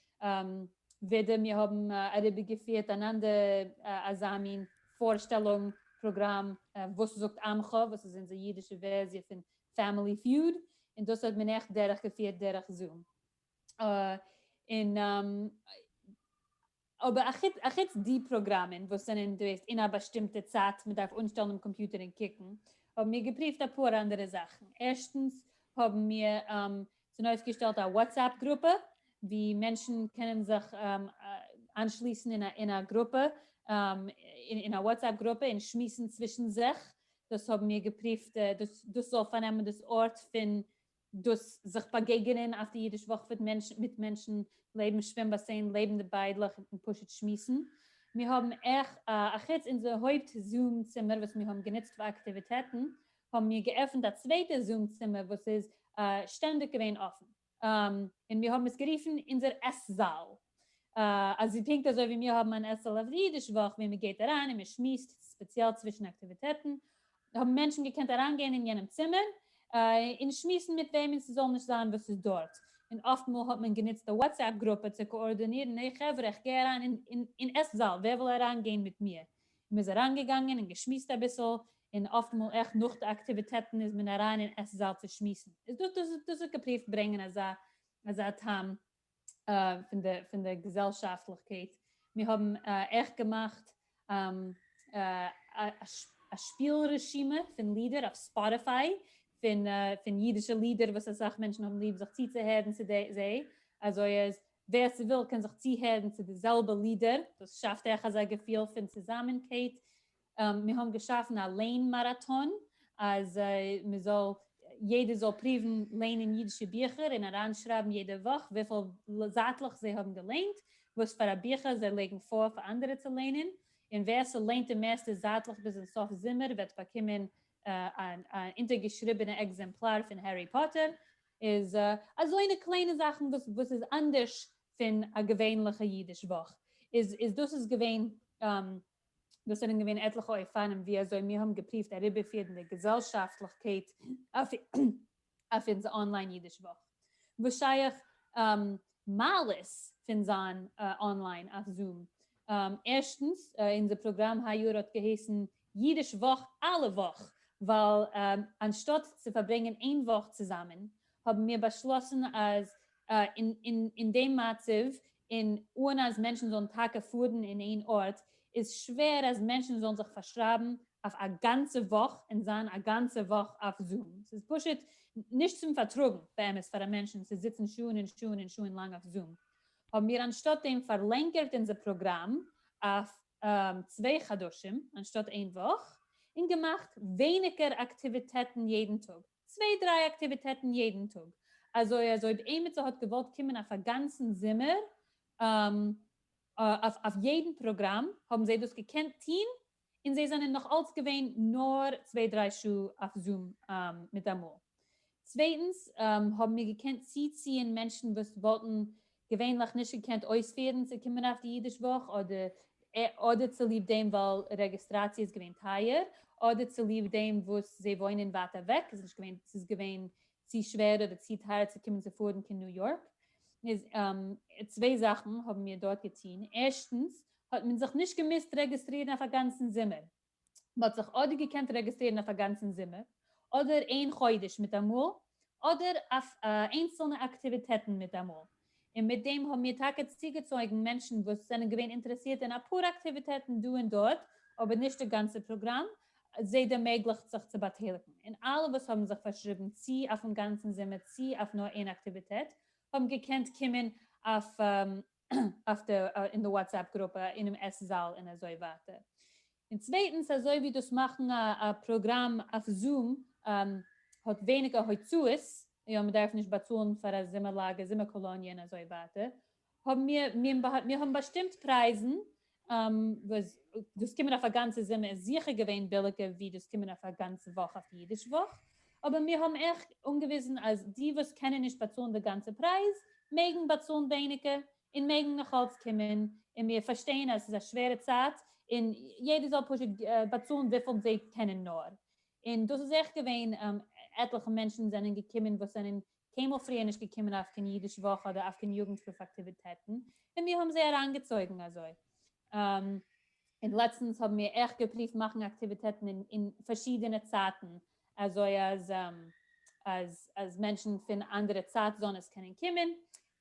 ווידער מיר האבן אריבערגעפירט אן אנדער אזא מין פארשטעלונג פראגראם וואס זאגט עמך, וואס איז אונזער אידישע ווערסיע פון פעמילי פיוד, און דאס האט מען עכט דורכגעפירט דורך זום. און אבער אחוץ די פראגראמען וואס זענען דא יעצט אין א באשטימטע צייט מען דארף אנשטעלן דעם קאמפיוטער און קוקן, האבן מיר געפריווט אפאר אנדערע זאכן, ערשטנס האבן מיר צונויפגעשטעלט א וואטסעפפ גרופע ווי מענטשן קענען זיך איינשליסן אין א גרופע, אין א וואטסעפפ גרופע און שמועסן צווישן זיך, דאס האבן מיר געפריווט דאס זאל פארנעמען דאס ארט פון דאס זיך באגעגענען אויף די אידיש וואך וועט מענטשן מיט מענטשן לעבן שווים באסען לעבן די ביידלעך און פשוט שמועסן מיר האבן עכ א חוץ אונזער הויפט זום צימער וואס מיר האבן גענוצט פאר אקטיוויטעטן האבן מיר געעפנט א צווייטע זום צימער וואס איז שטענדיג געווען אפן און מיר האבן עס גערופן אונזער עס זאל. אז פונקט אזוי ווי מיר האבן אן עשה'ל אויף די אידיש וואך ווי מען גייט אריין און מען שמועסט ספעציעל צווישן אקטיוויטעטן, האבן מענטשן געקענט אריינגיין אין יענעם צימער און שמועסן מיט וועמען ס'זאל נישט זיין וואס איז דארט, און אפט מאל האט מען גענוצט א וואטסעפפ גרופע צו קאארדאנירן העי חברה איך גיי אריין אין עס זאל ווער וויל אריין גיין מיט מיר? און מען איז אריין געגאנגען און געשמועסט אביסל, און אפט מאל עכט נאך די אקטיוויטעטן איז מען אריין אין עס זאל צו שמועסן, דאס האט געפריווט ברענגען אזא טעם פון די פון די געזעלשאפטליכקייט, מיר האבן עכט געמאכט א שפיל רשימה פון לידער אויף ספאטיפיי פון פון אידישע לידער וואס אסאך מענטשן האבן ליב זיך צוצוהערן צו זיי, אזוי אז ווער ס'וויל קען זיך צוהערן צו די זעלבע לידער, דאס שאפט אייך אזא געפיל פון צוזאמענקייט מיר האבן געשאפן א ליין מאראטאן אז מען זאל, יעדער זאל פריוון ליינען אידישע ביכער און אריינשרייבן יעדע וואך וויפיל זייטלעך זיי האבן געליינט, וואס פאר א ביכער זיי לייגן פאר פאר אנדערע צו ליינען, און ווער ס'ליינט די מערסטע זייטלעך ביזן סוף זומער וועט באקומען אן אונטערגעשריבענע עקזעמפלאר פון הערי פאטער, איז אזוינע קליינע זאכן וואס וואס איז אנדערש פון א געווענליכע אידיש וואך, איז איז דאס איז געווען דאס זענען געווען עטליכע אופנים ווי אזוי מיר האבן געפריווט אריבערפירן די געזעלשאפטליכקייט אויף אונזער אנליין אידיש וואך. וואס שייך מעלות פון זיין אנליין אויף זום? ערשטנס, אונזער פראגראם היי יאר האט געהייסן אידיש וואך אלע וואך, ווייל אנשטאט צו פארברענגען איין וואך צוזאמען, האבן מיר באשלאסן אז אין דעם מצב און אן אז מענטשן זאלן טאקע פארן אין איין ארט, איז שווער אז מענטשן זאלן זיך פארשרייבן אויף א גאנצע וואך און זיין א גאנצע וואך אויף זום. ס'איז פשוט נישט צום פארטראגן באמת פאר א מענטשן צו זיצן שעה'ן און שעה'ן און שעה'ן לאנג אויף זום. האבן מיר אנשטאט דעם פארלענגערט אונזער פראגראם אויף צוויי חדשים אנשטאט איין וואך, און געמאכט ווייניגער אקטיוויטעטן יעדן טאג. צוויי דריי אקטיוויטעטן יעדן טאג, אזוי אז אויב עימיצער האט געוואלט קומען אויף א גאנצן זומער אויף אויף יעדן פראגראם האבן זיי דאס געקענט טוהן, און זיי זענען נאך אלץ געווען נאר צוויי דריי שעה אויף זום מיטאמאל. צווייטנס האבן מיר געקענט צוציען מענטשן וואס וואלטן געווענליך נישט געקענט אויספירן צו קומען אויף די אידיש וואך, אדער צוליב דעם ווייל רעגיסטראציע איז געווען טייער, אדער צוליב דעם וואס זיי וואוינען ווייט אוועק, ס'איז געווען צו שווער אדער צו טייער צו קומען צו פארן קיין ניו יארק. צוויי זאכן האבן מיר דארט געטון, ערשטנס, האט מען זיך נישט געמוזט רעגיסטרירן אויף א גאנצן זומער, מען האט זיך אדער געקענט רעגיסטרירן אויף א גאנצן זומער, אדער איין חודש מיטאמאל, אדער אויף איינצלנע אקטיוויטעטן מיטאמאל, און מיט דעם האבן מיר טאקע צוגעצויגן מענטשן וואס זענען געווען אינטערעסירט אין אפאר אקטיוויטעטן דא און דארט, אבער נישט די גאנצע פראגראם, זיי דערמעגליכט זיך צו באטייליגן, און אלע וואס האבן זיך פארשריבן צי אויפן גאנצן זומער צי אויף נאר איין אקטיוויטעט האבן געקענט קומען אויף אויף די אין די וואטסעפפ גרופע אינעם עס זאל און אזוי ווייטער. און צווייטנס אזוי ווי דאס מאכן א א פראגראם אויף זום האט ווייניגער הוצאות, יא מען דארף נישט באצאלן פאר א זומער לאגער, זומער קאלאניע און אזוי ווייטער, האבן מיר מיר האבן באשטימט פרייזן וואס דאס קומען אויף א גאנצע זומער איז זיכער געווען ביליגער ווי דאס קומען אויף א גאנצע וואך אויף אידיש וואך, אבער מיר האבן אייך אנגעוויזן אז די וואס קענען נישט באצאלן די גאנצע פרייז מעגן באצאלן ווייניגער און מעגן נאכאלץ קומען, און מיר פארשטייען אז עס איז א שווערע צייט און יעדער זאל פשוט באצאלן וויפיל זיי קענען נאר, און דאס איז אייך געווען עטליכע מענטשן זענען געקומען וואס זענען קיינמאל פריער נישט געקומען אויף קיין אידיש וואך אדער אויף קיין יוגנטהילף אקטיוויטעטן, און מיר האבן זיי אריינגעצויגן אזוי. און לעצטנס האבן מיר אויך געפריווט מאכן אקטיוויטעטן אין פארשידענע צייטן, אזוי אז מענטשן פון אנדערע צייט זאנעס קענען קומען,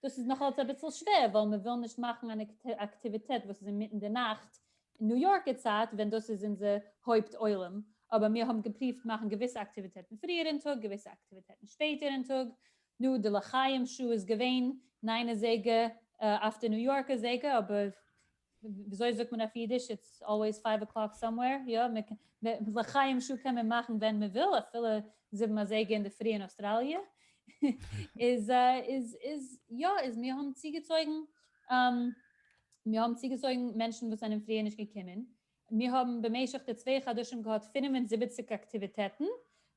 דאס איז נאכאלץ אביסל שווער ווייל מען וויל נישט מאכן אן אקטיוויטעט וואס איז אינמיטן די נאכט אין ניו יארקע צייט ווען דאס איז אונזער הויפט עולם, אבער מיר האבן געפריווט מאכן געוויסע אקטיוויטעטן פריער אין טאג געוויסע אקטיוויטעטן שפעטער אין טאג, נו די לחיים שעה איז געווען ניין אזייגער אויף די ניו יארקע זייגער אבער וויאזוי זאגט מען אויף אידיש, איטס אלוועיס פייוו אקלאק סאמווער, יא, לחיים שו קען מען מאכן ווען מען וויל, אפילו זיבן אזייגער אינדערפרי אין אוסטראליע, איז איז יא, איז מיר האבן צוגעצויגן, מיר האבן צוגעצויגן מענטשן וואס זענען פריער נישט געקומען, מיר האבן במשך די צוויי חדשים געהאט פֿינף און זיבעציק אקטיוויטעטן,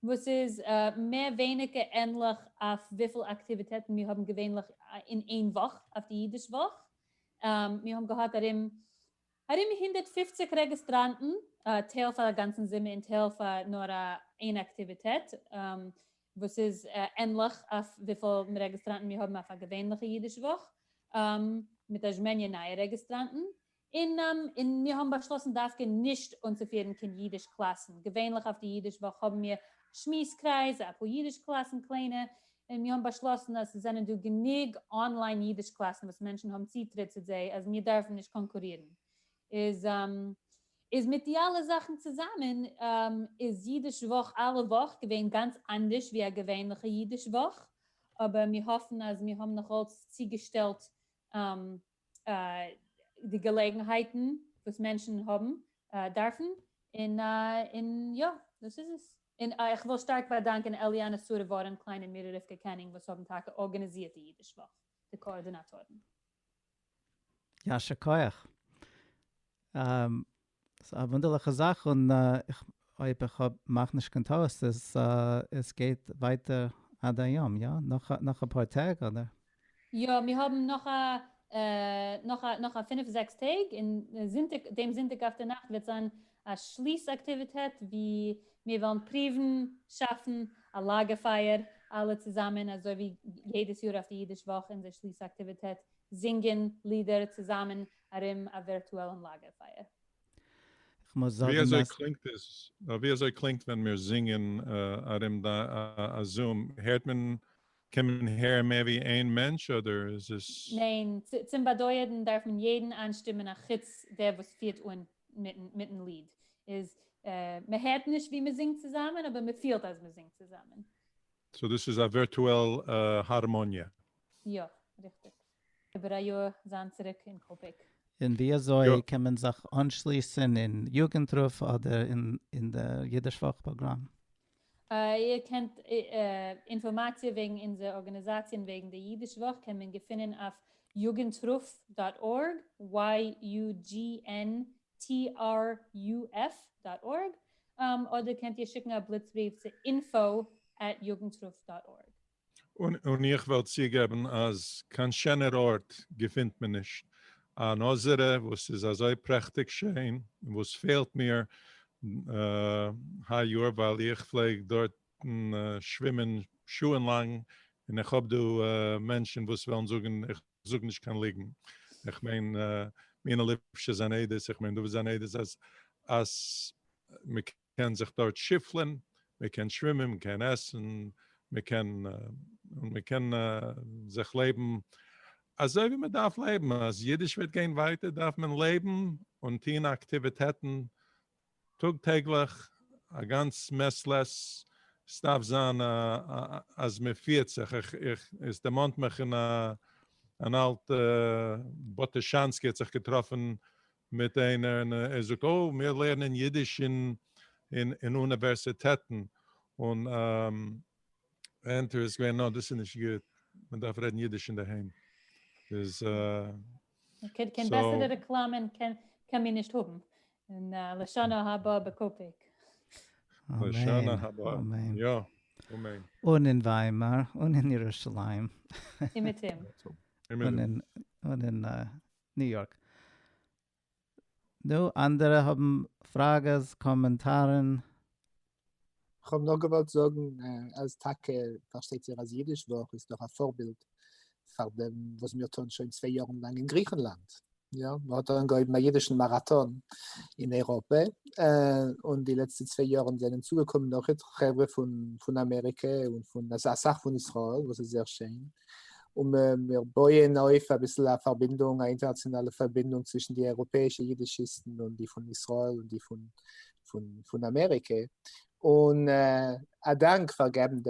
וואס איז מער ווייניגער ענליך אויף וויפיל אקטיוויטעטן מיר האבן געווענליך אין איין וואך, אויף די אידיש וואך. מיר האבן געהאט ארום ארום הונדערט פֿופֿציק רעגיסטראנטן, טייל פאר א גאנצן זומער און טייל פאר נאר איין אקטיוויטעט, וואס איז ענליך אויף וויפיל רעגיסטראנטן מיר האבן אויף א געווענליכע אידיש וואך, מיט א זשמעניע נייע רעגיסטראנטן, און מיר האבן באשלאסן דווקא נישט אנצופירן קיין אידיש קלאסן, געווענליך אויף די אידיש וואך האבן מיר שמועס קרייז, אפאר אידיש קלאסן קליינע, און מיר האבן באשלאסן אז ס'זענען דא גענוג אנליין אידיש קלאסן וואס מענטשן האבן צוטריט צו זיי אז מיר דארפן נישט קאנקורירן. איז מיט די אלע זאכן צוזאמען איז אידיש וואך אלע וואך געווען גאנץ אנדערש ווי א געווענליכע אידיש וואך, אבער מיר האפן אז מיר האבן נאכאלץ צוגעשטעלט די געלעגנהייטן וואס מענטשן האבן דארפן, און און יא, דאס איז עס. און איך וויל שטארק באדאנקען אליאנע סארע ווארען קליין און מירי רבקה קענינג וואס האבן טאקע ארגאניזירט די אידיש וואך, די קאארדינאטארן. יישר כח. ס'איז א וואונדערליכע זאך און אויב איך האב מאך נישט קיין טעות איז עס גייט ווייטער עד היום יא? נאך אפאר טעג אדער? יא מיר האבן נאך א נאך א נאך א פינף זעקס טעג און זונטאג דעם זונטאג אויפדערנאכט וועט זיין א שליס אקטיוויטעט ווי מיר וועלן פריוון שאפן א לאגער פייער אלע צוזאמען אזוי ווי יעדעס יאר אויף די אידיש וואך אונזער שליס אקטיוויטעט זינגען לידער צוזאמען ארום א ווירטועלן לאגערפייער. ווי אזוי קלינגט עס? ווי אזוי קלינגט ווען מיר זינגען ארום א זום? הערט מען, קען מען הערן מער ווי איין מענטש אדער איז עס. ניין, צום באדויערן דארף מען יעדן איינשטימען א חוץ דער וואס פירט אן מיטן ליד, איז מען הערט נישט ווי מען זינגט צוזאמען אבער מען פילט אז מען זינגט צוזאמען. סאו דאס איז א ווירטועל הארמאניע? יא, ריכטיג. איבער א יאר זיין צוריק אין קאפעק. און ווי אזוי קען מען זיך אנשליסן אין יוגנט רוף אדער אין די אידיש וואך פראגראם? איר קענט אינפארמאציע וועגן אונזער ארגאניזאציע און וועגן די אידיש וואך קען מען געפינען אויף jugendruf דאט ארג, YUGNTRUF דאט ארג, אדער קענט איר שיקן א בליץ בריוו צו info at jugendruf דאט ארג. און איך וועל צוגעבן אז קיין שענער ארט געפינט מען נישט, אן אזערע וואס איז אזוי פרעכטיג שיין, און וואס פעלט מיר היי יאר ווייל איך פלעג דארטן שווימען שעה'ן לאנג, און איך האב דא מענטשן וואס וועלן זאגן איך. זאג נישט קיין ליגן, איך מיין מינה ליפשע זיין עדות, איך מיין דוד זיין עדות אז אז מען קען זיך דארט שיפלען, מען קען שווימען, מען קען עסן, מען קען מען קען זיך לעבן אזוי ווי מען דארף לעבן, אז אידיש וועט גיין ווייטער דארף מען לעבן און טוהן אקטיוויטעטן טאג טעגליך א גאנץ מעס לעסס סדארף זיין אז מען פירט זיך איך איך עס דערמאנט מיך אין א אן אלט בוטושאנסקי האט זיך געטראפן מיט איינער און ער זאגט אוי מיר לערנען אידיש אין אין אוניווערסיטעטן און ענטער איז געווען נאר דאס איז נישט גוט, מען דארף רעדן אידיש אינדערהיים. איז אה. קיין בעסערע רעקלאמען קען מען נישט האבן, און לשנה הבאה בקאפיק. לשנה הבאה, יא, אמן. און אין וויימאר, און אין ירושלים. און אין ניו יארק. נו, אנדערע האבן פראגעס, קאמענטארן? כ'האב נאר געוואלט זאגן אז טאקע פארשטייט זיך אז אידיש וואך איז דאך א פארבילד פאר דעם וואס מיר טוען שוין צוויי יארן לאנג אין גריכנלאנד, יא, מ'האט אנגעהויבן א אידישן מאראטאן אין אייראפע, און די לעצטע צוויי יארן זענען צוגעקומען נאך חברה פון אמעריקע און פון אסאך פון ישראל וואס איז זייער שיין, און מיר בויען אויף אביסל א פארבינדונג, א אינטערנאציאנאלע פארבינדונג צווישן די אייראפעאישע אידישיסטן און די פון ישראל און די פון אמעריקע, און א דאנק פאר געבן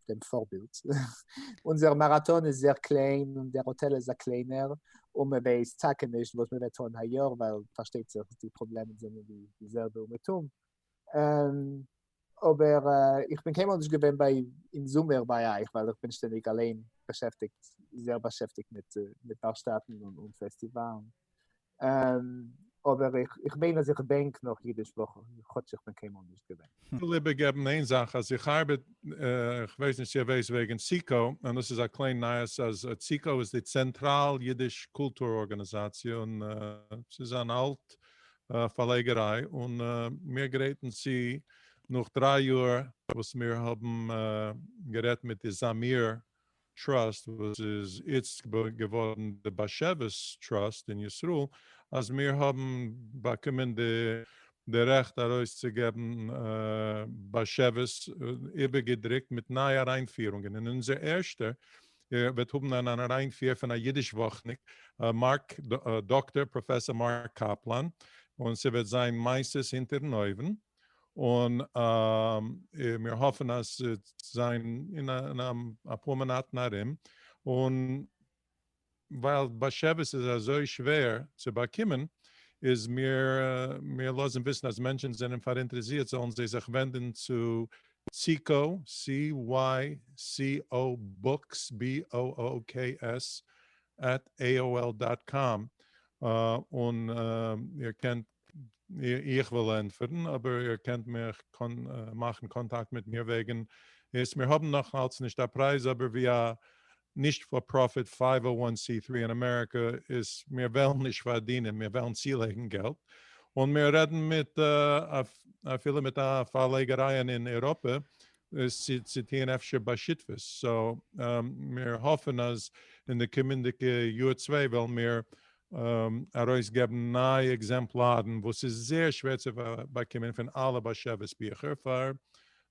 דעם פארבילד. אונזער מאראטאן איז זייער קליין און דער האטעל איז א קליינער, און מען ווייסט טאקע נישט וואס מען וועט טון היי יאר, ווייל פארשטייט זיך די פראבלעמען זענען די זעלבע אומעטום, אבער איך בין קיינמאל נישט געווען ביי אין זומער ביי אייך ווייל איך בין שטענדיג אליין באשעפטיגט זייער באשעפטיגט מיט מיט ווארשטאטן און פעסטיוואלן אבער איך מיין אז איך דענק נאך אידיש וואך כאטש איך בין קיינמאל נישט געווען. איך וויל איבערגעבן איין זאך אז איך ארבעט איך ווייס נישט צו איר ווייסט וועגן ציקו און דאס איז א קליין נייעס אז ציקו איז די צענטראל אידיש קולטור ארגאניזאציע און ס'איז אן אלט פארלייגעריי און מיר גרייטן צו נאך דריי יאר וואס מיר האבן גערעדט מיט די זאמיר טראסט וואס איז איצט געווארן די באשעוויס טראסט אין ישראל אז מיר האבן באקומען די רעכט ארויס צו געבן באשעוויס איבערגעדרוקט מיט נייע אריינפירונגען און אונזער ערשטע ער וועט האבן אן אריינפיר פון א אידיש וואכניק, מארק, דאקטאר פראפעסאר מארק קאפלאן, און ס'וועט זיין מעשות הונטערן אויוון, און מיר האפן אז ס'וועט זיין אין אפאר מאנאטן ארום, און ווייל באשעוויס איז אזוי שווער צו באקומען, איז מיר, מיר לאזן וויסן אז מענטשן זענען פאראינטערעסירט זאלן זיי זיך ווענדן צו סיקאו, CYCO בוקס, BOOKS, עט עיאועל דאט קאם, און איר קענט, איך וועל ענטפערן, אבער איר קענט מיך מאכן קאנטאקט מיט מיר וועגן עס, מיר האבן נאכאלץ נישט א פרייז, אבער ווי א נישט פאר פראפיט פייוו אר וואן סי טרי אין אמעריקע איז מיר וועלן נישט פארדינען מיר וועלן צולייגן געלט און מיר רעדן מיט אפילו מיט א פארלייגעריי אין אירופה צו צו טוהן אפשר בשותפות סאו מיר האפן אז אין די קומענדיגע יאר צוויי וועלן מיר ארויס געבן נייע עקזעמפלארן וואס איז זייער שווער צו באקומען פון אלע באשעוויס ביכער פאר